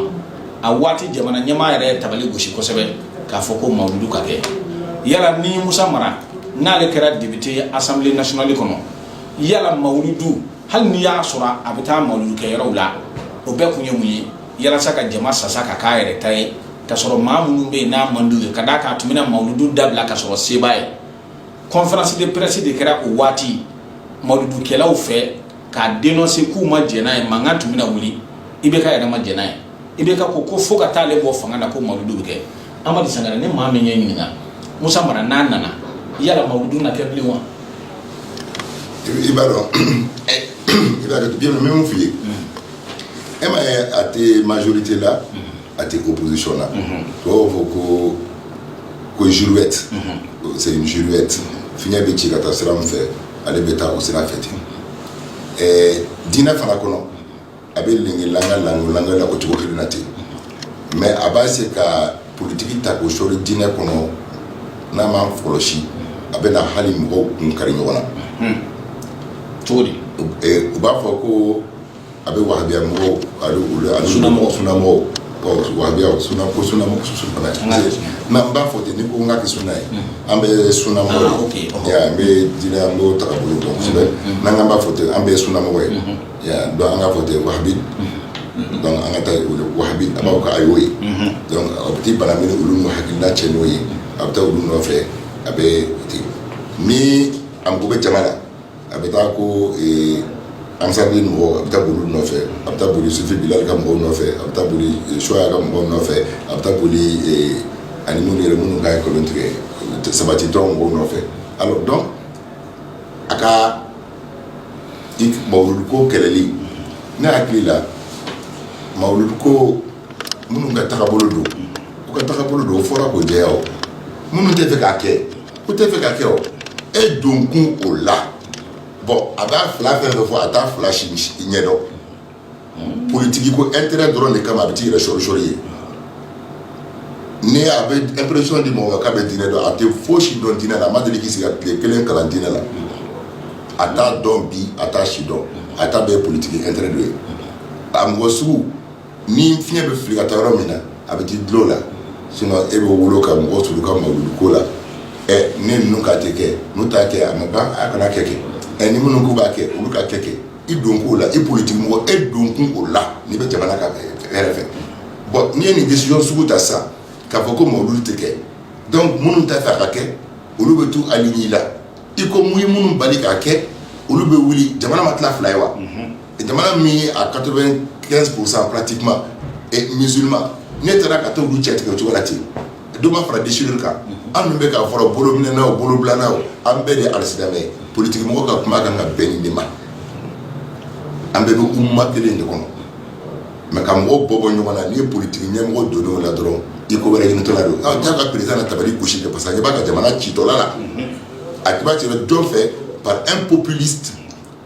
a waati jamana ɲɛmaa yɛrɛ ye tabali gosi kosɛbɛ k'a fɔ ko mawuludu ka kɛ yala ni musa mara n'ale kɛra député ye assemblée nationale kɔnɔ yala mawuludu hali n'i y'a sɔrɔ a bɛ taa mawuludu kɛ yɔrɔw la o bɛɛ kun ye mun ye yalasa ka jama sasa ka k'a yɛrɛ ta ye ka sɔrɔ maa minnu bɛ yen n'a man d'u ye ka d'a kan a tun bɛna mawuludu dabila ka sɔrɔ se b'a ye conférence de presse de kɛra o waati mawuludukɛlaw fɛ k'a dénoncer k'u ma jɛn n'a ye mankan tun bɛna wuli ibk yɛrɛ ma jɛn n'a ye ibk ko ko fo ka taa ale bɔ fanga na ko mawuludu bɛ kɛ amadu sangare ni maa min ye ɲininka musa mara n'a nana yala mawuludu na kɛ bilen wa i b'a dɔn i b'a dɔn n bɛ min f'i ye e m'a ye a tɛ majorité la a tɛ opposition la tubabu b'a fɔ ko girouette girouette fiɲɛ bɛ ci ka taa sira min fɛ ale bɛ taa o sira fɛ ten ɛɛ diinɛ fana kɔnɔ a bɛ la lalankɛ la o cogo kelen na ten mais a b'a se ka politiki ta k'o sɔli diinɛ kɔnɔ n'a ma kɔlɔsi a bɛna hali mɔgɔw kun kari ɲɔgɔn na cogo di u b'a fɔ ko a bɛ wahabiya mɔgɔw ani sunamɔgɔw ko suna n'an b'a fɔ ten ni ko n ka suna ye an bɛ sunina an bɛ diinɛ an b'o taabolo dɔn kosɛbɛ n'an k'an b'a fɔ ten an bɛɛ sunamɔgɔ ye an k'a fɔ ten wahabi an ka taa wahabi a b'a ka a y'o ye a bɛ bala min olu ma hakilina cɛ n'o ye a bɛ taa olu nɔfɛ a bɛ ten ni an ko bɛ jamana la a bɛ taa ko Ansar mɔgɔw a bɛ taa boli nɔfɛ a bɛ taa boli Sufi Bilal ka mɔgɔw nɔfɛ a bɛ taa boli Chouala ka mɔgɔw nɔfɛ a bɛ taa boli ani minnu yɛrɛ minnu ka ye kolon tigɛ sabati dɔn mɔgɔw nɔfɛ alors donc a ka mawuludu ko kɛlɛli ne hakili la mawuludu ko minnu ka tagabolo don u ka tagabolo don o fɔra k'o jɛya o minnu t'a fɛ k'a kɛ u t'a fɛ k'a kɛ o e don kun o la bon a b'a fila fɛn fɛ fɔ a t'a fila si ɲɛdɔn politigi ko intérêt dɔrɔn de kama a bɛ t'i yɛrɛ sɔrisɔri ye ni a bɛ impression di mɔgɔw ma k'a bɛ diinɛ dɔn a tɛ fosi dɔn diinɛ la a ma deli k'i sigi ka tile kelen kalan diinɛ la a t'a dɔn bi a t'a si dɔn a ta bɛɛ politigi intérêt dɔ ye a mɔgɔ sugu Ni fiɲɛ bɛ fili ka taa yɔrɔ min na a bɛ t'i dulon la sinon e bɛ wolo ka mɔgɔ s ka mawuludu ko la ɛ ni ninnu k'a tɛ kɛ n'u t'a kɛ a ma ban a kana kɛ kɛ ɛ ni minnu k'u b'a kɛ olu k'a kɛ kɛ i don kun o la i politigi mɔgɔ e don kun o la n'i bɛ jamana ka hɛrɛ fɛ bon n'i ye nin décision sugu ta sa k'a fɔ ko mawuludu tɛ kɛ donc minnu t'a fɛ a ka kɛ olu bɛ t'u aligner la i kɔ n'i ye minnu bali k'a kɛ olu bɛ wuli jamana ma tila fila ye wa Jamana min ye à 95 pourcent pratiquement musulman n'e taara ka t'olu cɛ tigɛ o cogo la ten, dɔ ma fara déchirure kan, an dun bɛ k'a fɔ la bolominɛna o bolobilana o an bɛɛ de ye alisilamɛ ye, politique mɔgɔ ka kuma ka kan ka bɛn nin de ma, an bɛɛ bɛ umma kelen de kɔnɔ mais ka mɔgɔw bɔ bɔ ɲɔgɔn na n'i ye politique ɲɛmɔgɔ donna o la dɔrɔn i ko wɛrɛ ɲinitɔla don, ɔ jaa ka président na tabali gosi kɛ parce que a ɲɛ b'a ka jamana citɔla la, a ɲɛ b'a cila jɔn fɛ par un populiste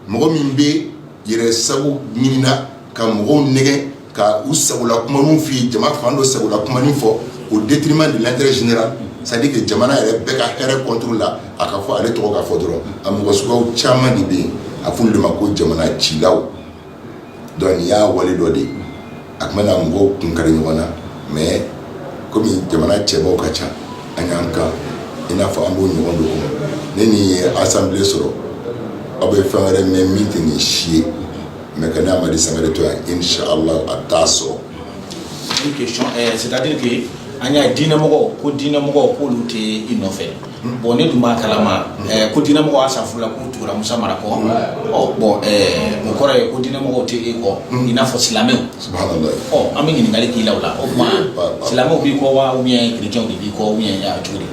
mɔgɔ min bɛ yɛrɛ sago ɲinina ka mɔgɔw nɛgɛn ka u sagola kumaninw f'u ye jama fan dɔ sagola kumanin fɔ au détriment de l'intérêt général c'est-à-dire que jamana yɛrɛ bɛɛ ka hɛrɛ contre la a ka fɔ ale tɔgɔ ka fɔ dɔrɔn a mɔgɔ suguyaw caman de bɛ yen a f'olu de ma ko jamana cilaw Donc nin y'a wale dɔ de ye a tun bɛna mɔgɔw kun kari ɲɔgɔn na mais kɔmi jamana cɛbaw ka ca an y'an kan i n'a fɔ an b'o ɲɔgɔn dɔ kɔnɔ ni nin ye assemblée sɔrɔ aw bɛ fɛn wɛrɛ mɛn min tɛ nin si ye mais ka ne Amadi Sangare to yan inshallah a t'a sɔrɔ c'est-à-dire an y'a diinɛmɔgɔw ko diinɛmɔgɔw k'olu tɛ i nɔfɛ Bon ne dun b'a kalama ko diinɛmɔgɔw y'a sa furula k'u tugura Musa Mara kɔ, ɔ bon ɛɛ o kɔrɔ ye ko diinɛmɔgɔw tɛ e kɔ i n'a fɔ silamɛw, subahanalayi, ɔ an bɛ ɲininkali k'i la o la o tuma silamɛw b'i kɔ wa ou bien chrétiens de b'i kɔ ou bien cogo di?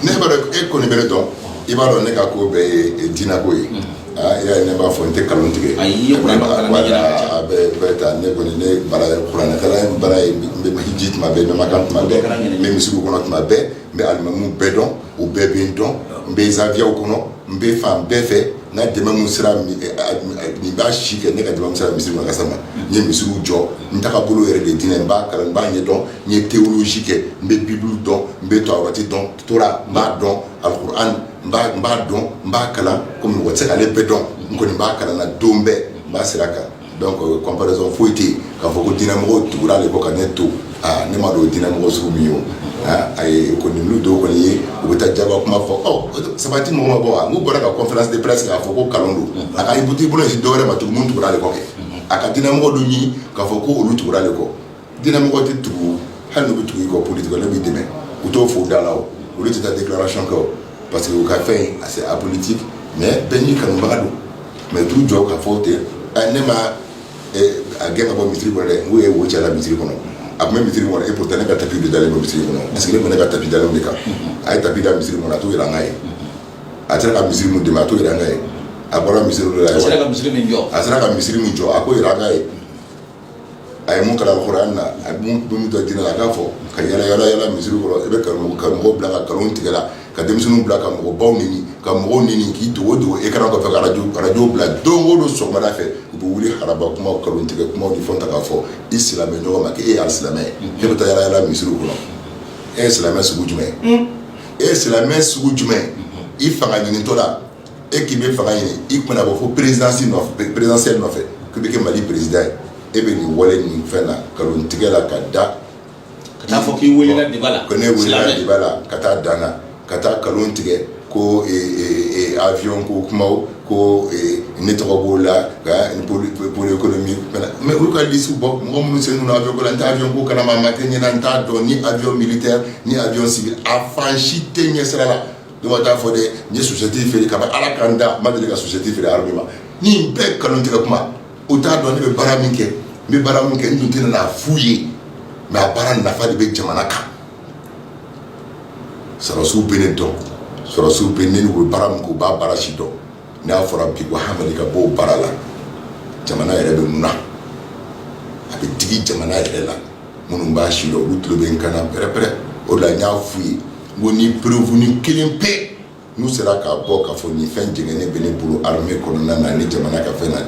ne b'a dɔn e kɔni bɛ ne dɔn i b'a dɔn ne ka ko bɛɛ ye diinako ye y'a ne b'a fɔ n tɛ nkalon tigɛ a ye kuran bɛɛ taa ne kɔni ne baara kuranɛkalan baara ye n bɛ hiji tuma bɛɛ n bɛ Makan tuma bɛɛ n bɛ misiriw kɔnɔ tuma bɛɛ n bɛ alimamuw bɛɛ dɔn u bɛɛ bɛ n dɔn n bɛ zawiyaw kɔnɔ n bɛ fan bɛɛ fɛ n ka dɛmɛ min sera nin b'a si kɛ ne ka dɛmɛ sera misiri ma kasa ma n ye misiriw jɔ n tagabolo yɛrɛ de diinɛ n b'a kalan n b'a ɲɛ dɔn n ye théologie kɛ n bɛ bible dɔn n bɛ tawurati dɔn tora n b'a dɔn alikuran n b'a dɔn n b'a kalan komi mɔgɔ tɛ ale bɛɛ dɔn n kɔni b'a kalan na don bɛɛ n b'a sira kan comparaison foyi tɛ yen k'a fɔ ko diinɛmɔgɔw tugura ale kɔ ka ne to aaa ne ma dɔn diinɛmɔgɔ sugu min ye o a kɔni dɔw kɔni ye u bɛ taa jaba kuma fɔ Sabati mɔgɔ ma bɔ wa n'u bɔra ka conférence de presse k'a fɔ ko nkalon don a ka i bu t'i bolo si dɔwɛrɛ ma tugun tugura ale kɔ kɛ a ka diinɛmɔgɔ dɔ ɲini k'a fɔ ko olu tugura ale kɔ Diinɛmɔgɔ tɛ tugu hali n'u bɛ tugu i kɔ politique n'u b'i dɛmɛ u t'o fɔ da la olu tɛ taa déclaration kɛ parce que u ka fɛn c'est apolitique mais bɛɛ n'i kanubaga don mais t'u jɔ k'a fɔ ten ne ma a gɛn ka bɔ misiri kɔnɔ dɛ n'u ye wo cɛla misiri kɔnɔ a tun bɛ misiri kɔnɔ et pourtant ne ka tapi dalen bɛ misiri kɔnɔ parce que ne ne ka tapi dalen de kan a ye tapi da misiri kɔnɔ a t'o jira n' ye a sera ka misiri min dɛmɛ a t'o jira n' ye a bɔra misiri a sera ka misiri min jɔ a k'o jira n' ye a ye mun kalan alxurani na, a ye mun dɔn diinɛ la, a k'a fɔ ka yala yala yala misiri kɔnɔ, i bɛ karamɔgɔw bila ka nkalon tigɛ la, ka denmisɛnninw bila ka mɔgɔbaw nɛni, ka mɔgɔw nɛni k'i dogo dogo écran kɔfɛ ka radio radio bila don o don sɔgɔmada fɛ, u bɛ wuli araba kuma nkalon tigɛ kumaw ni fɛnw ta k'a fɔ i silamɛ ɲɔgɔn ma k'e ye alisilamɛ ye, e bɛ taa yala yala misiriw kɔnɔ, e ye silamɛ sugu jumɛn ye? E ye silamɛ sugu jumɛn ye? I fanga ɲinitɔ la e k'i bɛ fanga ɲini i tun bɛna bɔ fo présidentielle nɔfɛ k'i bɛ kɛ Mali président ye e bɛ nin wale nin fɛn na nkalon tigɛ la ka da ka taa fɔ k'i welela débat la ko ne welela débat la ka taa dan na ka taa nkalon tigɛ ko avion ko kuma ko ne tɔgɔ b'o la pôle économique mais olu ka liste bɔ mɔgɔ minnu sen donna avion ko la n tɛ avion ko kalama a ma kɛ n ɲɛna n t'a dɔn ni avion militaire ni avion civil a fan si tɛ ɲɛsira la Dɔw bɛ taa fɔ dɛ n ye chaussette feere kabini Ala ka n da n ma deli ka chaussette feere armée ma nin bɛɛ nkalon tigɛ kuma u t'a dɔn ne bɛ baara min kɛ n bɛ baara min kɛ n tun tɛ n'a f'u ye mais a baara nafa de bɛ jamana kan sɔrɔsiw bɛ ne dɔn sɔrɔsiw bɛ ne ni u bɛ baara min kɛ u b'a baara si dɔn n'a fɔra bi ko Hamadi ka bɔ o baara la jamana yɛrɛ bɛ na a bɛ digi jamana yɛrɛ la minnu b'a si dɔn olu tulo bɛ n kan na pɛrɛ-pɛrɛ o de la n y'a f'u ye Bon ni preuve ni kelen pe n'u sera k'a bɔ k'a fɔ nin fɛn jɛngɛnen bɛ ne bolo armée kɔnɔna na ni jamana ka fɛn na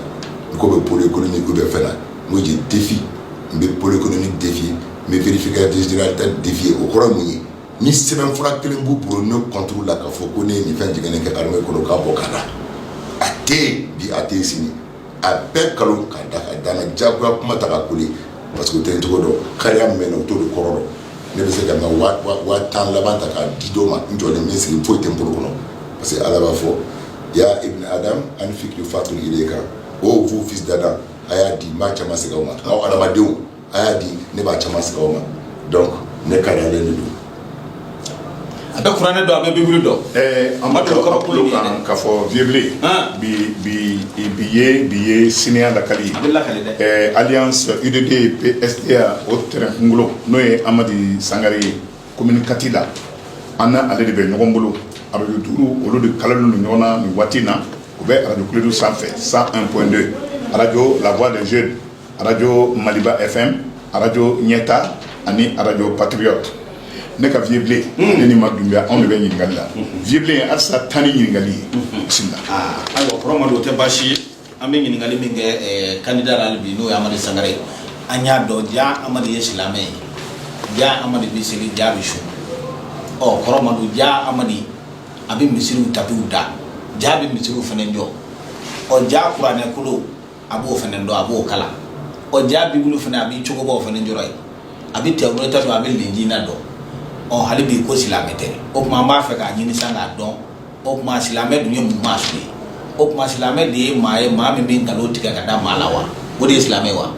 n ko bɛ pôle économique bɛ fɛn na n ko je défie n bɛ pôle économique défier n bɛ vérificateur général ta défier o kɔrɔ mun ye ni sɛbɛnfura kelen b'u bolo ne contre la k'a fɔ ko ne ye nin fɛn jɛngɛnen kɛ armée kɔnɔ k'a bɔ ka na a tɛ bi a tɛ sini a bɛɛ nkalon k'a da k'a da n na juguya kuma ta ka kuli parce que u tɛ n cogo dɔn kariya min o u t'o de kɔrɔ dɔn ne bɛ se ka n ka waa tan laban ta k'a di dɔw ma n jɔlen min sigi foyi tɛ n bolo kɔnɔ parce que ala b'a fɔ ya ibni adam anfiki fat ilayka ô vous fils d'Adam a y'a di n b'a caman segin aw ma adamadenw A y'a di ne b'a cɛ sigi aw ma dɔn ne ka don a bɛ kuran ne don a bɛ bɛ dɔn a ma kɔrɔ kan ka fɔ vvle bi ye bi ye senya lakali ali y'an sɔrɔ i bɛ eya o t kunkolo n'o ye amadu sangare ye ko kati la an n' ale de bɛ ɲɔgɔn bolo a bɛ duuru olu de kala ni ɲɔgɔn na nin waati in na u bɛ aradu kulu sanfɛ san anpdo araj lawa de z arajo maliba FM arajo ɲɛta ani arajo patriote ne ka vieux blen hmm. ne ni ma dunbiya anw de bɛ ɲininkali la hmm. vieux blen halisa tan ni ɲininkali ye hmm. bisimila ah, ayiwa kɔrɔ ma don o tɛ baasi ye an bɛ ɲininkali min kɛ eh, kandida la bi n'o ye amadi sangare ye an y'a dɔn ja amadi ye silamɛ ye ja amadi bɛ seli ja bɛ sun ɔ oh, kɔrɔ ma don ja amadi a bɛ misiriw tapiw da ja bɛ misiriw fana jɔ ɔ oh, ja kuranɛ kolo a b'o fana dɔn a b'o kalan ɔ ja bibulu fana a b'i cogobaw fana jɔrɔ ye a bɛ tawurata sɔrɔ a bɛ lenjila dɔn ɔ hali bi ko silamɛ tɛ o tuma an b'a fɛ k'a ɲini sa k'a dɔn o tuma silamɛ dun ye mun maa su ye o tuma silamɛ de ye maa ye maa min bɛ nkalon tigɛ ka da maa la wa o de ye silamɛ wa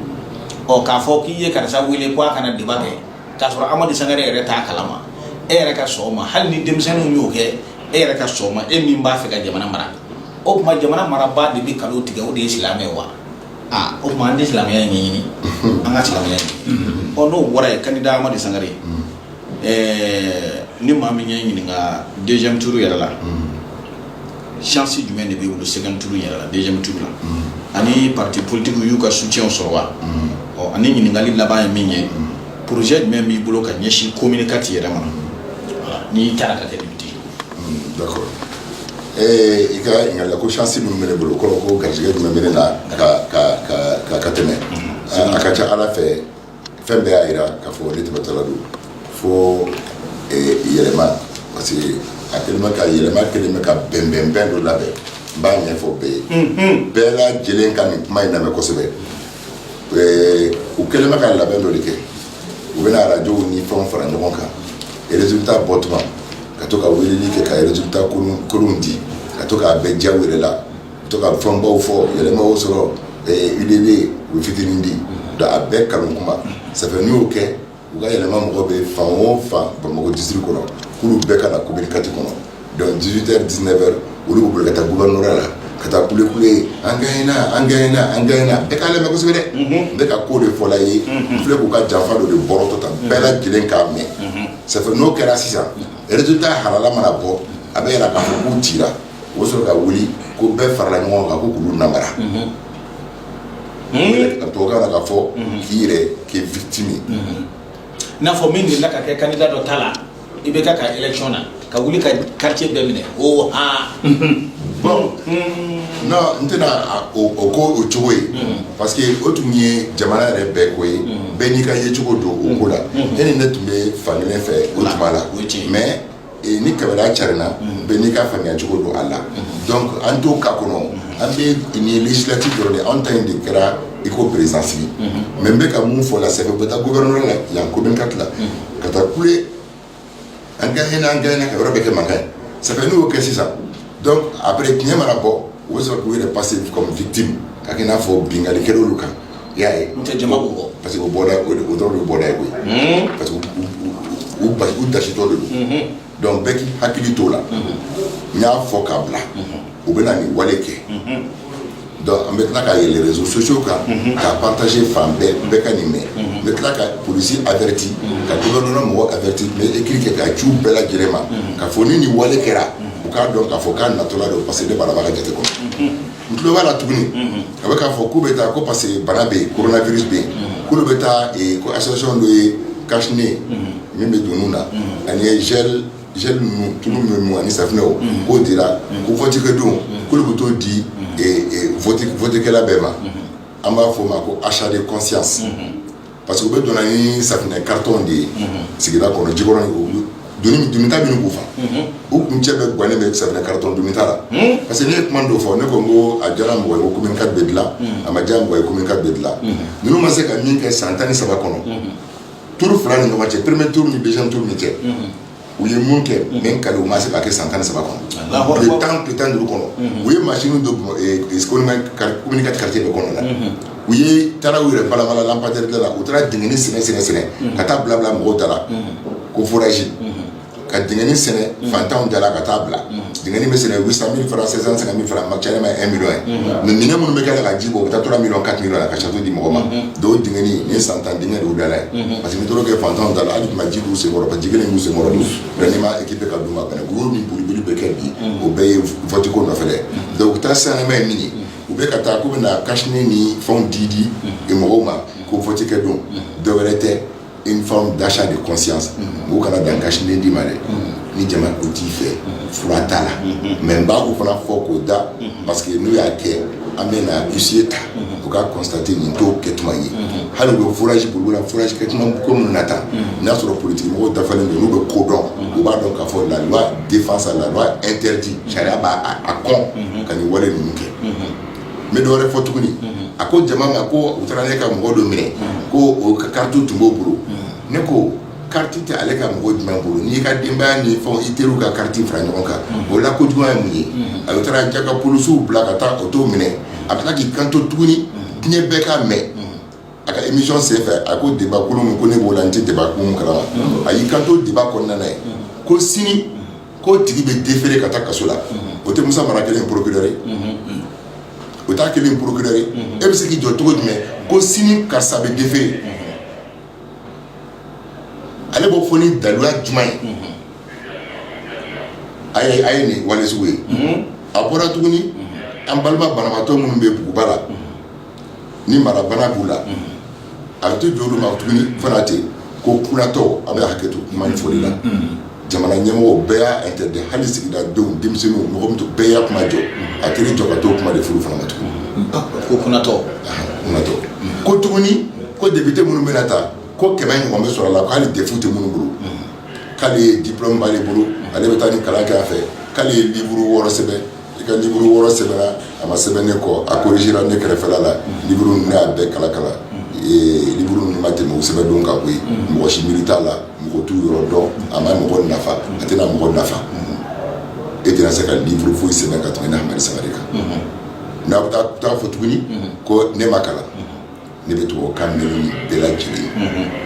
ɔ k'a fɔ k'i ye karisa wele ko a kana débat kɛ k'a sɔrɔ amadi sangare yɛrɛ t'a kalama e yɛrɛ ka sɔn o ma hali ni denmisɛnninw y'o kɛ e yɛrɛ ka sɔn o ma e min b'a fɛ ka jamana mara O tuma jamana marabaa de bɛ nkalon tigɛ o de ye silamɛ wa o tuma an tɛ silamɛya in ɲɛɲini an ka silamɛya ɔ n'o bɔra yen kandida amadi sangare ni maa min ye ɲininka deuxième tour yɛrɛ la chance jumɛn de b'i bolo second tour yɛrɛ la deuxième tour la ani parti politigiw y'u ka soutien sɔrɔ wa ɔ ani ɲininkali laban ye min ye projet jumɛn b'i bolo ka ɲɛsin commune kati yɛrɛ ma n'i taara ka kɛ i ka ɲininkali la ko chance min bɛ ne bolo kɔrɔ ko garisɛgɛ jumɛn bɛ ne na ka ka ka ka ka tɛmɛ a ka ca Ala fɛ fɛn bɛɛ y'a jira k'a fɔ ne tɛmɛtɔla don fo yɛlɛma parce que a kɛlen bɛ ka yɛlɛma kɛlen bɛ ka bɛnbɛnbɛn dɔ labɛn n b'a ɲɛfɔ bɛɛ ye bɛɛ lajɛlen ka nin kuma in lamɛn kosɛbɛ u kɛlen bɛ ka labɛn dɔ de kɛ u bɛna arajow ni fɛnw fara ɲɔgɔn kan résultat bɔ tuma ka to ka weleli kɛ ka résultat kolonw di ka to k'a bɛɛ diya u yɛrɛ la ka to ka fɛnbaw fɔ yɛlɛmaw sɔrɔ UDD u bɛ fitinin di donc a bɛɛ kanu kuma ça fait n'u y'o kɛ U ka yɛlɛma mɔgɔ bɛ fan o fan Bamakɔ district kɔnɔ k'olu bɛɛ ka na commune IV kɔnɔ donc 18 heures 19 heures olu bɛ boli ka taa gouvernorat la ka taa kule kule an gagné na an gagné na an gagné na bɛɛ k'a lamɛn kosɛbɛ dɛ n bɛ ka ko de fɔla i ye n filɛ k'u ka janfa dɔ de bɔrɔtɔ tan bɛɛ lajɛlen k'a mɛn ça fait n'o kɛra sisan résultat halala mana bɔ a bɛ yira k'a fɔ k'u cira u bɛ sɔrɔ ka wuli ko bɛɛ farala ɲɔgɔn kan ko k'olu namara. tubabukan na k'a fɔ k'i yɛrɛ kɛ victime n'a fɔ min delila ka kɛ candidat dɔ ta la IBK ka élection na ka wuli ka quartier bɛɛ minɛ o ha bon non n tɛna o ko o cogo ye parce que o tun ye jamana yɛrɛ bɛɛ ko ye bɛɛ n'i ka yecogo don o ko la e ni ne tun bɛ fankelen fɛ o tuma la mais ni kɛmɛɛna carinna bɛn n'i ka faamuya cogo don a la an t' ka kɔnɔ an bɛ nin silati jɔ de an ta in de kɛra i ko perezsi mɛ n bɛka ka mun fɔ la sa bɛ taa guyɔrɔ la yan ko ka tila ka taa kule an ka h an ka ka yɔrɔ bɛ kɛ mankan ye sa n'o kɛ sisan a bɛ tiɲɛ mana bɔ o bɛ sɔrɔ k'u yɛrɛ pa se ka fit ka n'a fɔ binkalikɛ olu kan i y'a ye, n'o tɛ jama b'u kɔ, parce que o bɔda o dɔrɔn de ye bɔda ye koyi, unhun, parce que u basi u dasitɔ de don, unhun, donc bɛɛ k'i hakili t'o la, unhun, n y'a fɔ k'a bila, unhun, u bɛna nin wale kɛ, unhun, donc an bɛ tila ka yɛlɛ réseaux sociaux kan, unhun, k'a partager fan bɛɛ bɛɛ ka nin mɛn, unhun, n bɛ tila ka polisi averti, unhun, ka gouvernement mɔgɔ averti n bɛ écrit kɛ k'a ci u bɛɛ lajɛlen ma, unhun, k'a fɔ ni nin wale kɛra, unhun, u k'a dɔn k'a fɔ k'a natɔla don parce que ne b'a dɔn a b'a ka jate kɔnɔ. n tulo b'a la tuguni a bɛ k'a fɔ k'u bɛ taa ko parce que bana bɛ yen coronavirus bɛ yen k'olu bɛ taa ko association dɔ ye cache-nez min bɛ don nun na ani gel gel ninnu tulu ninnu ani safinɛw k'o dira ko vote kɛ don k'olu bɛ t'o di vote kɛla bɛɛ ma an b'a fɔ o ma ko achat de conscience Parce que u bɛɛ donna ni safunɛ carton de ye sigida kɔnɔ Jikɔrɔni donita minnu k'u fa u kuncɛ bɛɛ gannen bɛ safunɛ carton donita la parce que ne ye kuma dɔ fɔ ne ko n ko a diyara mɔgɔ ye commune IV bɛ dilan a ma diya mɔgɔ ye commune IV bɛ dilan ninnu ma se ka min kɛ san tan ni saba kɔnɔ tour fila ni ɲɔgɔn cɛ premier tour ni deuxième tour ni cɛ u ye mun kɛ min ka u ma se ka kɛ san tan saba kɔnɔ tile tan tile tan duuru kɔnɔ u ye machine don commune IV quartier bɛɛ kɔnɔ la u ye taara u yɛrɛ balabala lampadaire la u taara dingɛni sen sɛnɛ sɛnɛ ka taa bila bila mɔgɔw da la ko forage ka dingɛni sɛnɛ fantanw da la ka taa bila Deni bɛ sen san min fara sisan san min fara ma caya ma e mi ye mɛ minɛ minnu bɛ kɛ ka ji bɔ u bɛ taa tora min ka ki la ka satu di mɔgɔ ma don d ye san tan denkɛ don dala ye parce que tora kɛ fantan da la hali tun ji' senkɔrɔ ka ji kelen senkɔrɔ ni ma ekip ka don ka wu ni boliolibili bɛ kɛ bi o bɛɛ ye fɔtiko nɔfɛ dɛ dɔnku u taa sanma ye min ye u bɛ ka taa k'u bɛna na kas ni fɛnw di di mɔgɔw ma ko fɔti kɛ don dɔw wɛrɛ tɛ une forme d'achat de conscience u kana dan cache-nez di ma dɛ ni jama ko t'i fɛ fura t'a la mais n b'o fana fɔ k'o da parce que n'u y'a kɛ an bɛ na huissier ta u ka constater nin t'o kɛ tuma ye hali u bɛ forage bolo la forage kɛ ko minnu na tan n'a y'a sɔrɔ politigimɔgɔ dafalen don n'u bɛ ko dɔn u b'a dɔn k'a fɔ la loi défend ça la loi interdit sariya b'a kɔn ka nin wale ninnu kɛ n bɛ dɔwɛrɛ fɔ tuguni a ko jama ma ko u taara ne ka mɔgɔ dɔ minɛ ko o ka kariti tun b'o bolo ne ko kariti tɛ ale ka mɔgɔ jumɛn bolo n'i ka denbaya ni fɛnw i teriw ka kariti fara ɲɔgɔn kan o la kojuguya ye mun ye a bɛ taara ja ka polisiw bila ka taa o to minɛ a bɛ k'i kanto tuguni diɲɛ bɛɛ k'a mɛn a ka émission senfɛ a ko débat kolon min ko ne b'o la n tɛ débat kolon kalama a y'i kanto débat kɔnɔna na yen ko sini k'o tigi bɛ déférer ka taa kaso la o tɛ musa mara kɛlen procureur ye o t'a kɛlen procureur ye e bɛ se k'i jɔ cogo jumɛn ko sini karisa bɛ déférer ale b'o fɔ ni daluya jumɛn ye a ye a ye nin wale sugu ye a bɔra tuguni an balima banabaatɔ minnu bɛ buguba la ni mara bana b'u la a bɛ to jɔ olu ma tuguni fana ten ko kunatɔ a bɛ hakɛto kuma nin fɔli la jamana ɲɛmɔgɔw bɛɛ y'a interdit hali sigida denw denmisɛnninw mɔgɔ tɔ bɛɛ y'a kuma jɔ a kelen jɔ ka to kuma de furu fana ma tugun ko kunatɔ ko tuguni ko depite minnu bɛna ta ko kɛmɛ ɲɔgɔn bɛ sɔrɔ a la ko hali DEF tɛ minnu bolo k'ale ye diplôme b'ale bolo ale bɛ taa ni kalan kɛ a fɛ k'ale ye liburu wɔɔrɔ sɛbɛn i ka liburu wɔɔrɔ sɛbɛnna a ma sɛbɛn ne kɔ a korizera ne kɛrɛfɛ la liburu nin ne y'a bɛɛ kalan kalan liburu nin ma tɛmɛ o sɛbɛn don ka bɔ yen mɔgɔ si miiri t'a la mɔgɔ t'u yɔrɔ dɔn a ma mɔgɔ nafa a tɛna mɔgɔ nafa e tɛna se ka liburu foyi sɛbɛn ka tɛmɛ Hamadi Sangare kan n'a bɛ taa fɔ tuguni ko ne ma kalan ne bɛ tubabukan mɛn nin bɛɛ lajɛlen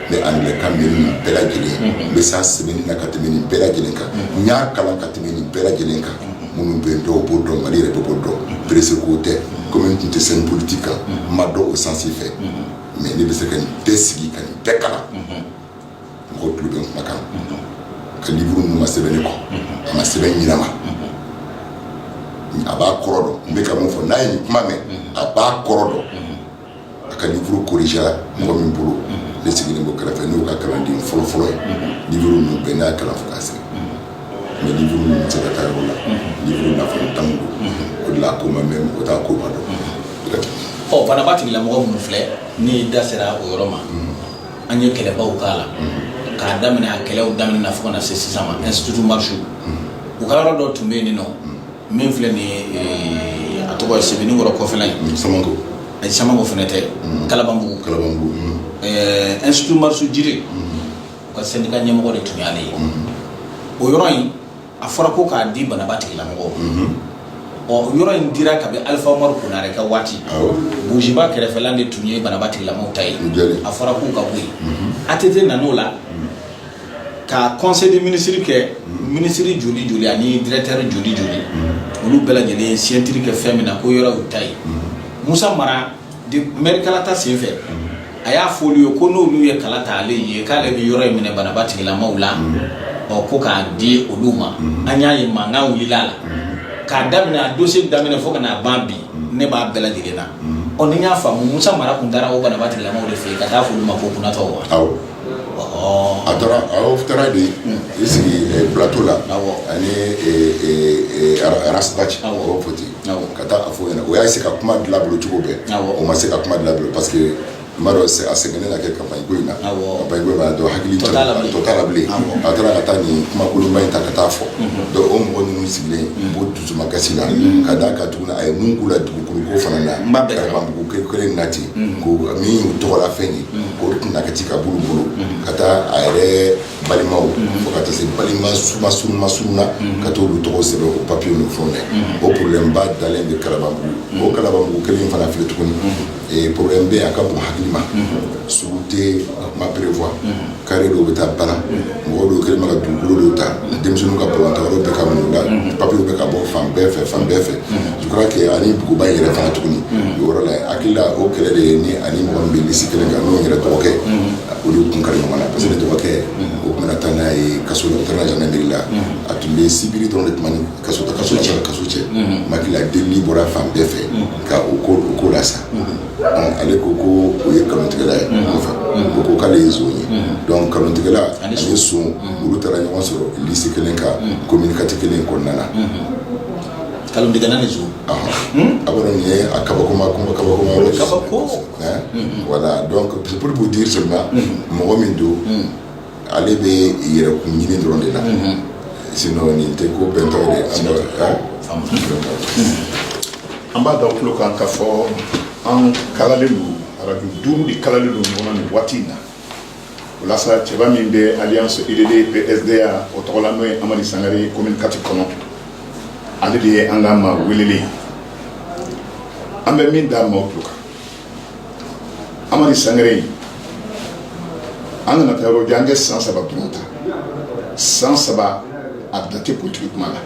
ne angilɛkan mɛn nin bɛɛ lajɛlen n bɛ s'a sɛbɛnni na ka tɛmɛ nin bɛɛ lajɛlen kan n y'a kalan ka tɛmɛ nin bɛɛ lajɛlen kan minnu bɛ dɔw b'o dɔn mali yɛrɛ bɛɛ b'o dɔn presse ko tɛ kɔmi n tun tɛ scène politique kan n ma dɔn o sansi fɛ mais ne bɛ se ka nin bɛɛ sigi ka nin bɛɛ kalan mɔgɔ tulo bɛ n kumakan ka livre ninnu ma sɛbɛn ne kɔ a ma sɛbɛn ɲinama a b'a kɔrɔ dɔn n bɛ ka mun fɔ n'a ye nin kuma mɛn a b'a kɔrɔ dɔn a ka livre corrigera mɔgɔ min bolo ne sigilen b'o kɛrɛfɛ n'o ka kalanden fɔlɔfɔlɔ ye livre ninnu bɛɛ n'a y'a kalan fo k'a sɛbɛn mais livre ninnu tɛ se ka taa yɔrɔ la livre nafolo t'anw bolo o de la a ko ma mɛn mɔgɔ t'a ko ma dɔn ɔ banaba tigilamɔgɔ minnu filɛ ni da sera o yɔrɔ ma an ye kɛlɛbaw k'a la k'a daminɛ a kɛlɛw daminɛ na fo ka na se sisan ma institut marchoux u ka yɔrɔ dɔ tun bɛ yen nin nɔ min filɛ nin ye a tɔgɔ ye sebenikɔrɔ kɔfɛla in samanko samanko fana tɛ kalabanbugu kalabanbugu institut marchoux jiri u ka syndicat ɲɛmɔgɔ de tun y'ale ye o yɔrɔ in a fɔra ko k'a di banaba tigilamɔgɔ ɔ yɔrɔ in dira kabi alifa umaru konare ka waati buguba kɛrɛfɛla de tun ye banaba tigilamɔgɔ ta ye a fɔra k'u ka bɔ yen ATT nan'o la ka conseil de ministre kɛ ministre joli joli ani directeur joli joli olu bɛɛ lajɛlen signature kɛ fɛn min na ko yɔrɔ y'u ta ye musa mara mɛri kalata sen fɛ a y'a fɔ olu ye ko n'olu ye kala ta ale ye k'ale bɛ yɔrɔ in minɛ banaba tigilamaw la ɔ ko k'a di olu ma an y'a ye mankan wulila la k'a daminɛ a dossier daminɛ fo ka n'a ban bi ne b'a bɛɛ lajɛlen na ɔ ni y'a faamu musa mara kun taara o banaba tigilamaw de fɛ yen ka taa fɔ olu ma ko kunnatɔ wa a taara de i sigi plateau la ani ras bath o fɔ ten ka taa a fɔ ɲɛna o y'a se ka kuma dilan bolo cogo bɛɛ o ma se ka kuma dilan bolo parce que n m'a dɔn a sɛgɛnnen ka kɛ campagne ko in na campagne ko in na donc hakili tɔ t'a la bilen a taara ka taa nin kumakolonba in ta ka taa fɔ donc o mɔgɔ ninnu sigilen b'o dusumakasi la ka d'a kan tuguni a ye mun k'u la dugukolo ko fana na kalabanbugu kelen na ten ko min y'u tɔgɔla fɛn ye k'o tun na ka ci ka bolo bolo ka taa a yɛrɛ balimaw fo ka taa se balima suba surunma surunna ka to olu tɔgɔ sɛbɛn o papiye n'o fɛnw na o problème ba dalen bɛ kalabanbugu o kalabanbugu kelen in fana filɛ tuguni ee problème bɛ yen a ka bon hakili ma sugu tɛ ma prévoir carré dɔw bɛ taa ba la mɔgɔ dɔw kɛlen bɛ ka dugukolo dɔw ta denmisɛnninw ka balontan yɔrɔ bɛ ka mun da papiyew bɛ ka bɔ fan bɛɛ fɛ fan bɛɛ fɛ je crois que ani buguba in yɛrɛ fana tuguni o yɔrɔ la hakili la o kɛlɛ de ye ni ani mɔgɔ min bɛ lisi kelen kan n'o yɛrɛ dɔgɔkɛ olu tun kari ɲɔgɔn na parce que dɔgɔkɛ o tun bɛna taa n'a ye kaso la u taara gendarmerie la a tun bɛ sibiri dɔrɔn de tun b'a ni kaso ta kaso cɛ kaso cɛ n hakili la delili bɔra fan bɛɛ fɛ ka o ko o ko la sa ale ko ko o ye kalontigɛla ye nɔfɛ o ko k'ale ye zon ye donc kalontigɛla ani son olu taara ɲɔgɔn sɔrɔ lisi kelen kan commune quatre kelen kɔnɔna na kalontigɛla ni zon a b'a dɔn nin ye a kabakoma kabakoma kabako voilà donc c'est pour vous dire seulement mɔgɔ min don ale bɛ yɛrɛkun ɲinin dɔrɔn de la sinon nin tɛ ko bɛntɔ ye an b'a da aw tulo kan ka fɔ an kalalen don arajo duuru de kalalen don ɲɔgɔn na nin waati in na o la sa cɛba min bɛ alliance UDD PSDA o tɔgɔ la n'o ye Amadi Sangare ye commune IV kɔnɔ ale de ye an ka maa welelen ye an bɛ min da maaw tulo kan Amadi Sangare an kana taa yɔrɔ jan an kɛ san saba dɔrɔn ta san saba a da tɛ politiki kuma la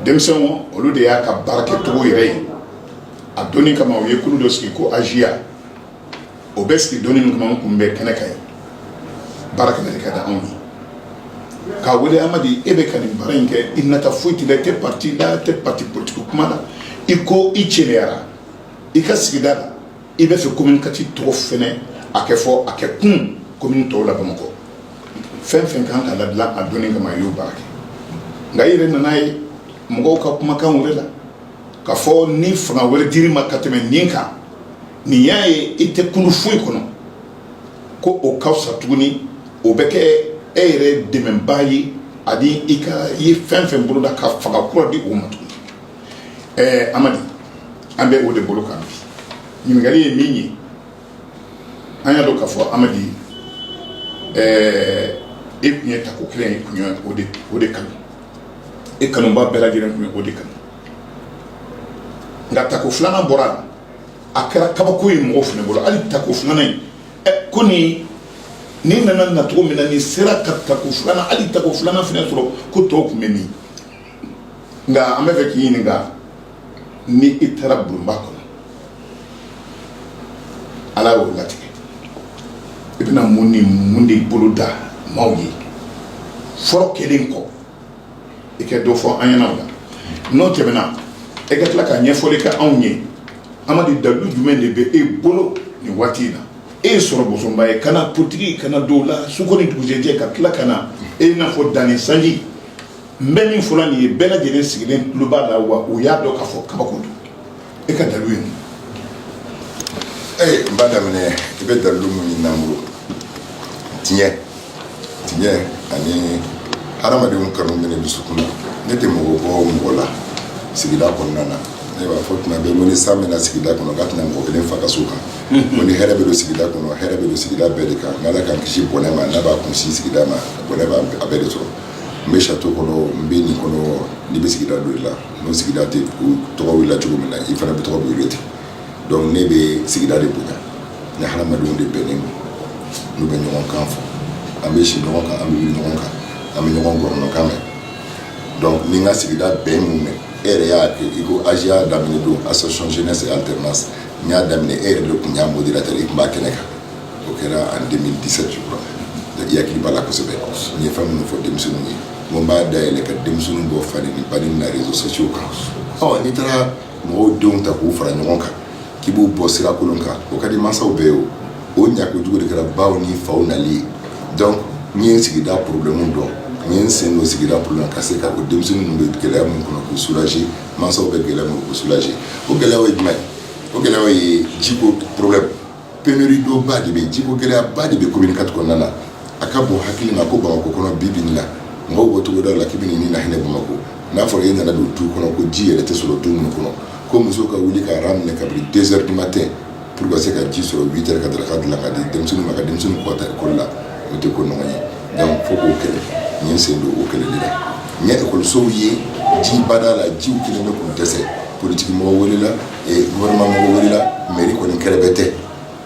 denmisɛnw olu de y'a ka baara kɛcogo yɛrɛ ye a dɔnni kama u ye kulu dɔ sigi ko AJA o bɛ sigi dɔnni min kama n kun bɛ kɛnɛ kan ye baara kana ka da anw ye k'a wele Amadi e bɛ ka nin baara in kɛ i nata foyi t'i la i tɛ pati la i tɛ pati politiki kuma la i ko i cɛyara i ka sigida la i b'a fɛ commune IV tɔgɔ fana a kɛ fɔ a kɛ commune tɔw la bamakɔ fɛn fɛn kan ka ladilan a dɔnni kama i y'o baara kɛ nka i yɛrɛ nana ye mɔgɔw ka kumakan wɛrɛ la ka fɔ ni fanga wɛrɛ dir'i ma ka tɛmɛ nin kan nin y'a ye i tɛ kulu foyi kɔnɔ ko o ka fisa tuguni o bɛ kɛ e yɛrɛ dɛmɛbaa ye ani i ka i ye fɛn fɛn boloda ka fanga kura di o ma tuguni ɛɛ amadi an bɛ o de bolo kan bi ɲininkali ye min ye an y'a dɔn k'a fɔ amadi ɛɛ e tun ye tako kelen ye tun ye o de o de kanu e kanuba bɛɛ lajɛlen tun ye o de kanu nka tako filanan bɔr'a la a kɛra kabako ye mɔgɔw fana bolo hali tako filanan in ɛ ko ni nin nana nacogo min na nin sera ka tako filanan hali tako filanan fana sɔrɔ ko tɔw tun bɛ min nka an b'a fɛ k'i ɲininka ni i taara bulonba kɔnɔ ala y'o latigɛ i bɛna mun ni mun de boloda maaw ye fɔlɔ o kɛlen kɔ i ka dɔ fɔ an ɲɛna o la n'o tɛmɛna e ka tila ka ɲɛfɔli kɛ anw ye Amadi dalu jumɛn de bɛ e bolo nin waati in na e ye sɔrɔ bosonba ye ka na politiki ka na don a la su ko ni dugujɛ cɛ ka tila ka na i n'a fɔ danni sanji n bɛ min fɔ la nin ye bɛɛ lajɛlen sigilen tulo b'a la wa u y'a dɔn ka fɔ kabako don e ka dalu ye mun n b'a daminɛ i bɛ dalilu mun ɲinin an bolo tiɲɛ tiɲɛ ani hadamadenw kanu bɛ ne dusukun na ne tɛ mɔgɔ bɔ mɔgɔ la sigida kɔnɔna na ne b'a fɔ tuma bɛɛ ko ni san bɛ na sigida kɔnɔ k'a tɛ na mɔgɔ kelen fa ka so kan ko ni hɛrɛ bɛ don sigida kɔnɔ hɛrɛ bɛ don sigida bɛɛ de kan n'ala k'an kisi bɔnɛ ma n'a b'a kunsin sigida ma bɔnɛ b'a bɛɛ de sɔrɔ n bɛ château kɔnɔ n bɛ nin kɔnɔ n'i bɛ sigida don i la N sigida tɛ tɔgɔ wele cogo min na i fana tɔgɔ bɛ wele ten donc ne bɛ sigida de kun ni hadamadenw de bɛnnen don n'u bɛ ɲɔgɔn kan fɔ an bɛ si ɲɔgɔn kan an bɛ wuli ɲɔgɔn kan an bɛ ɲɔgɔn gɔrɔndɔkan mɛn donc ni n ka sigida bɛn minnu mɛn e yɛrɛ y'a kɛ i ko AJA daminɛ don association jeunesse et alternance n y'a daminɛ e yɛrɛ de tun y'a modérateur i tun b'a kɛnɛ kan o kɛra en deux mille dix-sept je crois i hakili b'a la kosɛbɛ n ye fɛn minnu fɔ denmisɛnnin ye n b'a da yɛlɛ ka denmisɛnnin bɔ fa ni ba neni na réseaux sociaux kan ɔ n'i taara mɔgɔw denw ta k'u fara ɲɔgɔn kan k'i b'u bɔ sirakolon kan o ka di mansaw bɛɛ ye o o ɲako jugu de kɛra baw ni faw nali ye donc n ye n sigida problème dɔn n ye n sen don sigida problème ka se ka o denmisɛnnin ninnu bɛ gɛlɛya min kɔnɔ k'u soulager mansaw bɛ gɛlɛya min k'u soulager o gɛlɛyaw ye jumɛn o gɛlɛyaw ye jiko problème pénurie d'eau ba de bɛ jiko gɛlɛyaba de bɛ commune quatre kɔnɔna la a ka bon hakili ma ko bamakɔ kɔnɔ bi bi in na mɔgɔw bɔ cogo dɔw la k'i ni na hinɛ bamakɔ n'a fɔra e nana don du kɔnɔ ko ji yɛrɛ tɛ sɔrɔ du minnu kɔnɔ ko musow ka wuli ka rang minɛ kabini deux heures du matin pour k'u se ka ji sɔrɔ huit heures ka daraka dilan ka di denmisɛnnin ma ka denmisɛnnin ko ka taa ekɔli la o tɛ ko ɲuman ye donc fo k'o kɛlɛ n ye n sen don o kɛlɛ de la n ye ekɔlisow ye ji b'a da la jiw kɛlen bɛ k'u dɛsɛ politiki mɔgɔ welela welela mairie kɔni kɛrɛbɛtɛ,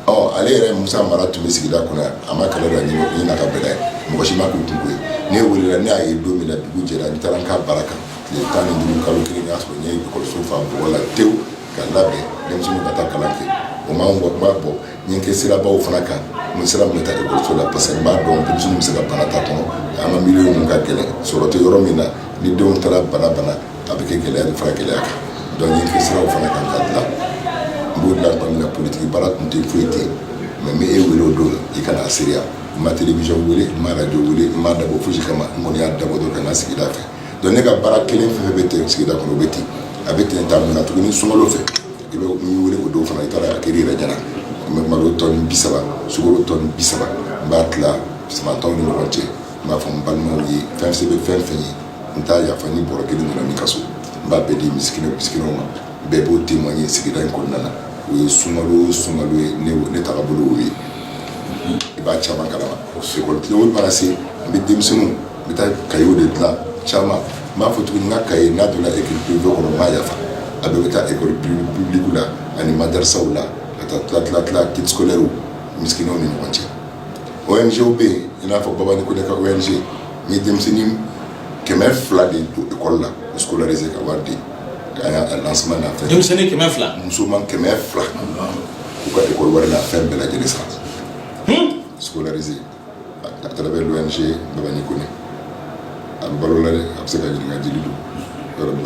ɔ ale yɛrɛ Musa Mara tun bɛ sigida kɔnɔ yan, a ma kɛlɛ don a ɲɛ na, n'a ka bɛn n'a ye, mɔgɔ si ma k'u kun ko ye, ne welela ne y'a ye don min na dugu jɛra, n taara n ka baara kan tile tan ni duuru kalo kelen, n y'a sɔrɔ n ye lakɔliso fa bɔgɔ la tewu ka labɛn denmisɛnninw ka taa kalan kɛ, o ma bɔ o ma n bɔ n ye n kɛ sirabaw fana kan n sira min bɛ taa lakɔliso la parce que n b'a dɔn denmisɛnninw bɛ se ka bana ta a kɔnɔ, an ka milieu ninnu ka gɛlɛn sɔrɔ tɛ yɔrɔ min na ni denw taara bana bana A bɛ kɛ gɛlɛya de fara gɛlɛya kan donc n ye n kɛ siraw fana kan ka dilan n b'o dilan tuma min na politiki baara tun tɛ foyi tɛ mais n bɛ e wele o don i ka na seereya n ma télévision wele n ma radio wele n m'a dabɔ fosi kama n kɔni y'a dabɔ dɔrɔn ka n ka sigida fɛ donc ne ka baara kelen fɛn fɛn bɛ ten sigida kɔnɔ o bɛ ten a bɛ ten ta mun na tuguni sunkalo fɛ i bɛ n wele o don fana i taara a kɛr'i yɛrɛ ɲɛna n bɛ malo tɔni bi saba sukaro tɔni bi saba n b'a tila sama tɔw ni ɲɔgɔn cɛ n b'a fɔ n balimaw ye fɛn se bɛ fɛn fɛn ye n t'a yafa ni bɔrɔ kelen donna min ka so n b'a bɛɛ di misikina misikinaw ma bɛɛ b'o témoigner sigida in kɔnɔna na o ye sunkalo sunkalo ye ne ne tagabolo o ye i b'a caman kalama ekɔli tile mana se n bɛ denmisɛnninw n bɛ taa kayew de dilan caman n b'a fɔ tuguni n ka kaye n'a donna ekɔli privé kɔnɔ n b'a yafa a bɛɛ bɛ taa ekɔli publique la ani madarisaw la ka taa tila tila tila kit scolaire misikinaw ni ɲɔgɔn cɛ ONG bɛ yen i n'a fɔ Babani Kone ka ONG n ye denmisɛnnin kɛmɛ fila de don école la scolarisé ka wari di a y'a lancement na denmisɛnnin kɛmɛ fila musoman kɛmɛ fila u ka école wari la fɛn bɛɛ lajɛlen sara scolarisé à travers l'ONG Babani Kone a bɛ balo la a bɛ se ka ɲininka jeli don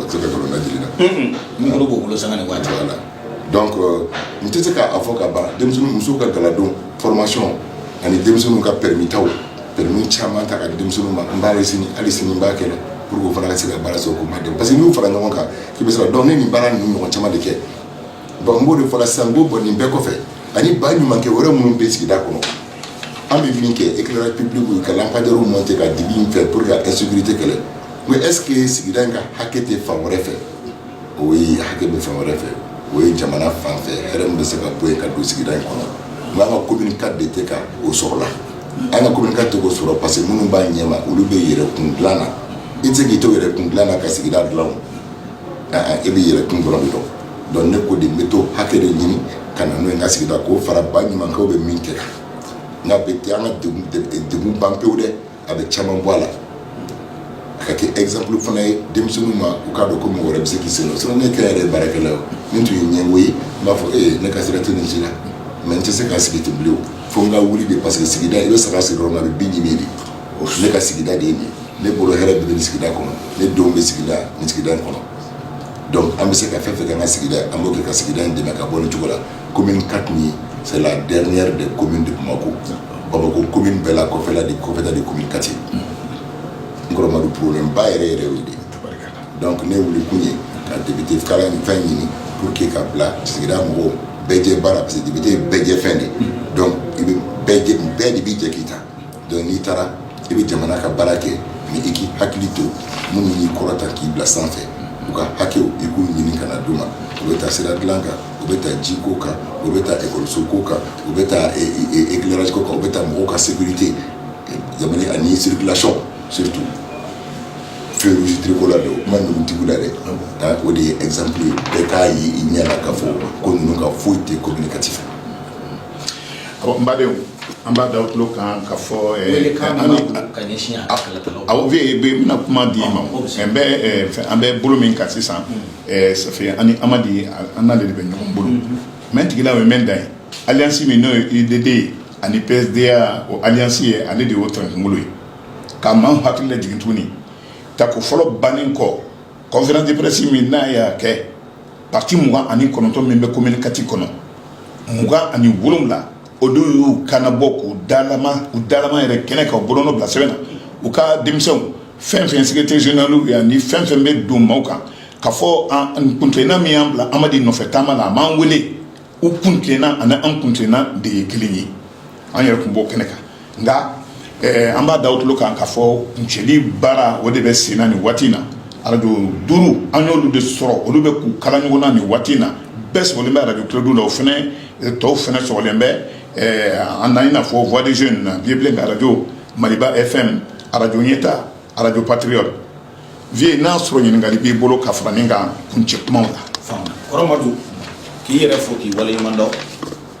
se ka nkalon da jeli la n bolo b'o bolo sanga ni waati voilà donc n tɛ se k'a fɔ ka ban denmisɛnnin musow ka galadon formation ani denmisɛnninw ka permis taw permis caman ta ka di denmisɛnninw ma n b'a ye sini hali sini n b'a kɛ dɛ pour que u fana ka se ka baara sɔrɔ k'u ma dɛmɛ parce que n'i y'u fara ɲɔgɔn kan k'i bɛ sɔrɔ donc ne nin baara ninnu ɲɔgɔn caman de kɛ bon n b'o de fɔ la sisan n ko bon nin bɛɛ kɔfɛ ani ba ɲumankɛ wɛrɛ minnu bɛ sigida kɔnɔ an bɛ min kɛ éclairage public ye ka lampadaires monter ka dibi in fɛ pour que ka insécurité kɛlɛ mais est ce que sigida in ka hakɛ tɛ fan wɛrɛ fɛ o ye hakɛ bɛ fan wɛrɛ fɛ o ye jamana fan fɛ hɛrɛ min bɛ se ka bɔ yen ka don sigida in kɔnɔ mais an ka commune quatre de tɛ ka o sɔrɔ la an ka commune quatre t'o sɔrɔ parce que minnu b'a ɲɛ ma olu bɛ yɛrɛ kun dila na i tɛ se k'i to yɛrɛ kun dila na ka sigida dila e bɛ yɛrɛ kun dɔrɔn de dɔn donc ne ko de n bɛ t'o hakɛ de ɲini ka na n'o ye n ka sigida k'o fara ba ɲumankɛw bɛ min kɛ kan n'a tɛ an ka degun ban pewu dɛ a bɛ caman bɔ a la a ka kɛ exemple fana ye denmisɛnninw ma u k'a dɔn ko mɔgɔ wɛrɛ bɛ se k'i sen don sinon ne kɛ n yɛrɛ ye baarakɛla ye o ni n tun ye ɲɛngo ye n b'a fɔ ee ne ka sira tɛ nin si la mais n tɛ se ka sigi ten bilen o fo n ka wuli de parce que sigida i bɛ saga siri yɔrɔ min na a bɛ bin ɲimi de o ne ka sigida de ye nin ye ne bolo hɛrɛ bɛ nin sigida kɔnɔ ne denw bɛ sigida nin sigida in kɔnɔ donc an bɛ se ka fɛn fɛn kɛ an ka sigida an b'o kɛ ka sigida in dɛmɛ ka bɔ nin cogo la commune quatre nin c'est la dernière des communes de Bamako Bamako commune bɛɛ la kɔfɛla de kɔfɛta de commune quatre ye n kɔrɔ Madu problème ba yɛrɛ yɛrɛ de donc ne wuli kun ye ka député kala ni fɛn ɲini pour que ka bila sigida mɔgɔw bɛɛjɛ baara parce que député bɛɛjɛ fɛn de donc i bɛ bɛɛ de b'i jɛ k'i ta donc n'i taara i bɛ jamana ka baara kɛ mais i k'i hakili to minnu y'i kɔrɔta k'i bila sanfɛ u ka hakɛw i k'u ɲini ka na d'u ma u bɛ taa sira dilan kan u bɛ taa ji ko kan u bɛ taa ekɔliso ko kan u bɛ taa e, e, e, éclairage ko kan u bɛ taa mɔgɔw ka sécurité jamana ani circulation surtout feu rouge tricolore de o kuma ninnu tigiw la dɛ ah, o de ye exemple ye bɛɛ k'a ye i ɲɛ la k'a fɔ ko ninnu ka foyi tɛ commune quatre Badenw an b'a da aw tulo kan k'a fɔ n bɛna kuma di maa an bɛ bolo min kan sisan Safi ani Amadi an n'ale de bɛ ɲɔgɔn bolo mɛ tigila ye mɛ da ye alliance min n'o ye UDD ye ani PSDA o alliance ye ale de y'o ta kunkolo ye ka maa hakili lajigin tuguni tako fɔlɔ bannen kɔ conférence de presse min n'a y'a kɛ Pati mugan ani kɔnɔntɔn min bɛ commune quatre kɔnɔ mugan ani wolowula o don y'u kan nabɔ u dama u dama yɛrɛ kɛnɛ ka bolonɔ bila sɛbɛn na u ka denmisɛnw fɛn fɛn secrétaire généralya ani fɛn fɛn bɛ don maaw kan k'a fɔ an kuntilenna min y'an bila Amadi nɔfɛ taama la a m'an wele u kuntilenna ani an kuntilenna de ye kelen ye an yɛrɛ tun b'o kɛnɛ kan nka eh, an b'a d'aw tulo kan k'a fɔ kuncɛli baara o de bɛ sen na nin waati in na arajo duuru an y'olu de sɔrɔ olu bɛ k'u kala ɲɔgɔn na nin waati in na bɛɛ sɔgɔlen bɛ arajo Kledu la o fana eh, tɔw fana sɔgɔlen bɛ eh, an na i n'a fɔ voix des jeunes na Vieux Bilen ka arajo maliba fm arajo ɲɛta arajo patriote Vieux n'a sɔrɔ ɲininkali b'i bolo ka fara nin kan kuncɛ kumaw la. Kɔrɔ Madu k'i yɛrɛ fo k'i waleɲuman dɔn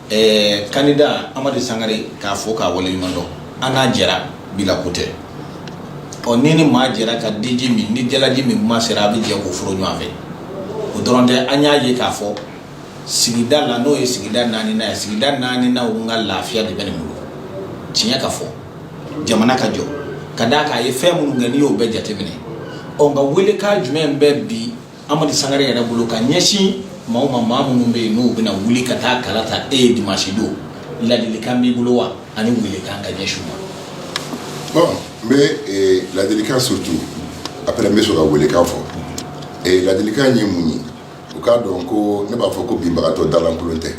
ɛɛ candidat Amadi Sangare k'a fo k'a waleɲuman dɔn an n'a jɛra bi la ko tɛ ɔ ni ni maa jɛra ka diji min ni jalaji min kuma sera a bɛ jɛ k'o foro ɲɔgɔn fɛ o dɔrɔn tɛ an y'a ye k'a fɔ sigida la n'o ye sigida naaninan ye sigida naaninan ka lafiya de bɛ nin bolo tiɲɛ ka fɔ jamana ka jɔ ka d'a kan a ye fɛn minnu kɛ n'i y'o bɛɛ jateminɛ ɔ nka welekan jumɛn bɛ bi Amadi Sangare yɛrɛ bolo ka ɲɛsin maa ma maa minnu bɛ yen n'u bɛna wuli ka taa kala ta e ye dimansi don ladilikan b'i bolo wa ani welekan ka ɲɛsin ma bon n bɛ eh, ladilikan surtout après n bɛ sɔrɔ ka welekan fɔ eh, ladilikan ye mun ye u k'a dɔn ko ne b'a fɔ ko binbagatɔ dalankolon tɛ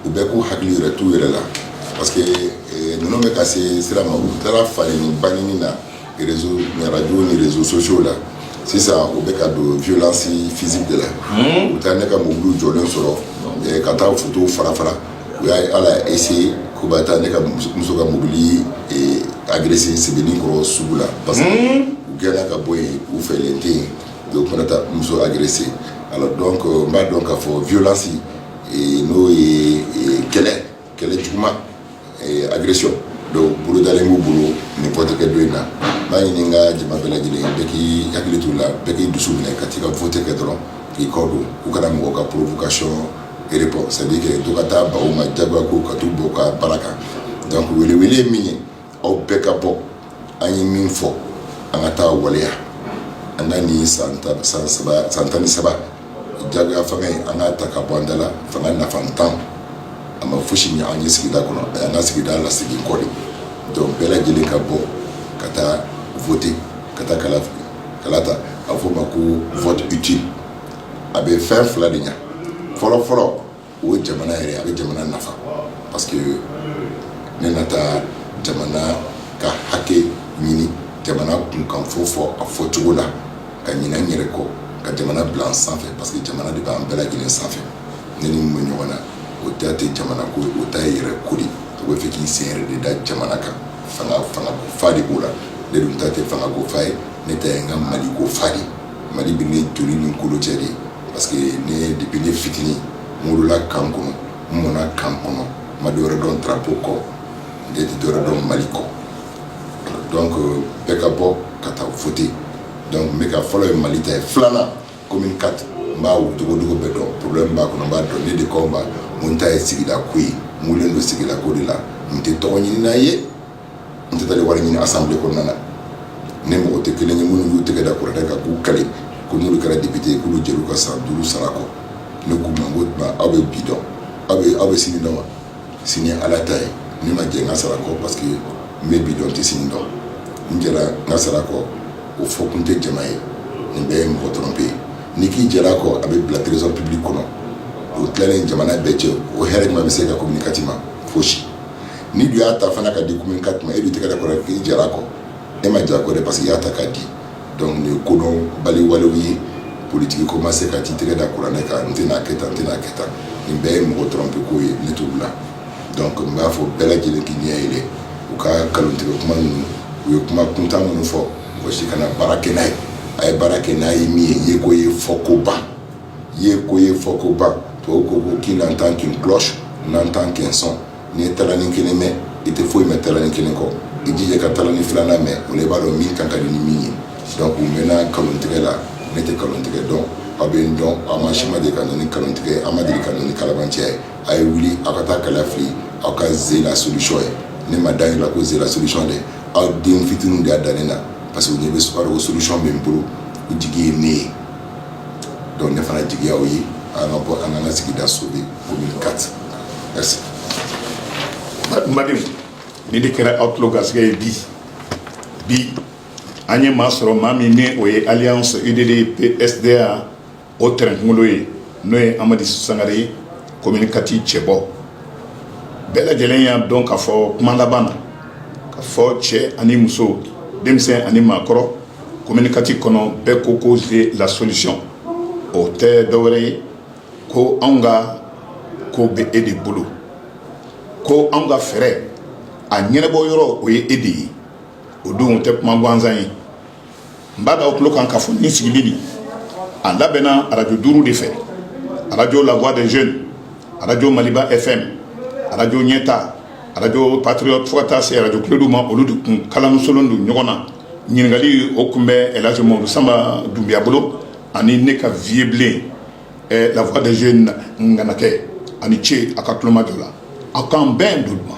u bɛɛ k'u hakili yɛrɛ t'u yɛrɛ la parce que eh, ninnu bɛ ka se sira ma u taara falenni bangini na réseau radio ni réseaux sociaux la sisan u bɛ ka don violence physique de la hmm? u taa ne ka mobiliw jɔlen sɔrɔ eh, ka taa fotow fara fara u y'a ye ala y'a essayer k'u bɛ taa ne ka muso ka mobili eh, agresser Sebeninkɔrɔ sugu la parce que hmm? u gɛnna ka bɔ yen u fɛlen tɛ yen Donc u mana taa muso agresser alors donc n b'a dɔn k'a fɔ violence n'o ye kɛlɛ kɛlɛ juguman agression dɔ bolodalen b'u bolo nin vote kɛ don in na n b'a ɲini n ka jama bɛɛ lajɛlen bɛɛ k'i hakili t'i la bɛɛ k'i dusu minɛ ka taa i ka vote kɛ dɔrɔn k'i kɔ don u kana mɔgɔw ka provocation répondre c'est à dire que to ka taa baw ma jagoya ko ka taa u bɔ ka baara kan donc welewele ye min ye aw bɛɛ ka bɔ an ye min fɔ an ka t'a waleya an ka nin san san tan ni saba jagoya fanga ye an k'a ta ka bɔ an da la fanga nafantan a ma fosi ɲɛ an ye sigida kɔnɔ a y'an ka sigida lasegin kɔ de donc bɛɛ lajɛlen ka bɔ ka taa voter ka taa kala kala ta a fɔ o ma ko vote utile a bɛ fɛn fila de ɲɛ fɔlɔ fɔlɔ o ye jamana yɛrɛ a bɛ jamana nafa parce que ne na taa jamana ka hakɛ ɲini jamana kunkan fɔ fɔ a fɔ cogo la ka ɲinɛ n yɛrɛ kɔ ka jamana bila sanfɛ parce que jamana de b'an bɛɛ lajɛlen sanfɛ ne ni minnu bɛ ɲɔgɔn na o ta tɛ jamana ko ye o ta ye yɛrɛ ko de o b'a fɛ k'i sen yɛrɛ de da jamana kan fanga fanga ko fa de b'o la ne dun ta tɛ fanga ko fa ye ne ta ye n ka mali ko fa de mali bɛ ne joli ni kolo cɛ de ye Parce que ne depuis ne fitinin n wolola camp kɔnɔ n mɔna camp kɔnɔ n ma dɔwɛrɛ dɔn drapeau kɔ n tɛ dɔwɛrɛ dɔn Mali kɔ donc euh, bɛɛ ka bɔ ka taa voter donc n bɛ ka fɔlɔ ye Mali ta ye filanan commune 4 n b'a dogodogo bɛɛ dɔn problème b'a kɔnɔ n b'a dɔn ne de commune ta ye sigida ko ye n wulilen don sigida ko de la n tɛ tɔgɔ ɲinina ye n tɛ taa wari ɲini assemblée kɔnɔna na ne mɔgɔ tɛ kelen ye minnu y'u tɛgɛ da kuranɛ kan k'u kali ko n'olu kɛra député ye k'olu jɛr'u ka san duuru sara kɔ ne k'u ma aw bɛ bi dɔn aw bɛ aw bɛ sini dɔn wa sini ala ta ye ne ma jɛ n ka sara kɔ parce que n bɛ bi dɔn n tɛ sini dɔn n jɛra n ka sara kɔ o fɔ kun tɛ jama ye nin bɛɛ ye mɔgɔ tromper ye n'i k'i jɛr'a kɔ a bɛ bila trésor public kɔnɔ o tilalen jamana bɛɛ cɛ o hɛrɛ jumɛn bɛ se ka commune 4 ma fosi n'i dun y'a ta fana k'a di commune 4 ma e dun tɛgɛ da kuranɛ k'i jɛr'a kɔ e ma jɛ a kɔ dɛ parce que i y'a ta k'a di donc nin ye kodɔn baliwalew ye politigi ko ma se ka t'i tɛgɛ da kuranɛ kan n tɛna kɛ tan n tɛna kɛ tan nin bɛɛ ye mɔgɔ tromper ko ye ne t'u la donc n b'a fɔ bɛɛ lajɛlen k'i ɲɛ yɛlɛ u ka nkalontigɛ kuma ninnu u ye kuma kuntan minnu fɔ mɔgɔ si kana baara kɛ n'a ye a ye baara kɛ n'a ye min ye yeko ye fɔko ban yeko ye fɔko ban tubabu ko ko qui n'entend qu'une cloche n'entend qu'un son n'i ye talani kelen mɛn i tɛ foyi mɛn talani kelen kɔ i jija ka talani filanan mɛn o la i b'a dɔn min kan ka di ni min ye donc u mɛnna nkalontigɛ la ne tɛ nkalontigɛ dɔn aw bɛ n dɔn aw maa si ma deli ka na ni nkalontigɛ ye aw ma deli ka na ni kalabanciya ye a ye wuli aw ka taa kala fili aw ka ze la solution ye ne m'a da n yɛrɛ la ko ze la solution dɛ aw den fitininw de y'a da ne na parce que u ɲɛ bɛ sukaro ko solution bɛ n bolo u jigi ye ne ye donc ne fana jigi y'aw ye an ka bɔ an ka an ka sigida sauver commune 4 N badenw nin de kɛra aw tulo garisɛgɛ ye bi bi an ye maa sɔrɔ maa min ni o ye alliance UDD PSDA o tɛrɛn kunkolo ye n'o ye amadi sangare ye commune 4 cɛbɔ bɛɛ lajɛlen y'a dɔn k'a fɔ kuma laban na k'a fɔ cɛ ani muso denmisɛn ani maakɔrɔ commune 4 kɔnɔ bɛɛ ko ko ze la solution o tɛ dɔwɛrɛ ye ko anw ka ko bɛ e de bolo ko anw ka fɛɛrɛ a ɲɛnabɔ yɔrɔ o ye e de ye o don o tɛ kuma gansan ye n b'a da aw tulo kan k'a fɔ nin sigili nin a labɛnna arajo duuru de fɛ arajo la voix des jeunes arajo maliba fm arajo ɲɛta arajo patriote fo ka taa se arajo kledu ma olu de kun kalansolen don ɲɔgɔn na ɲininkali o kun bɛ elhadji mamadu sanba dunbiya bolo ani ne ka vieux blen eh, la voix des jeunes nganakɛ a ni ce a ka tulomajɔ la aw k'an bɛn doduma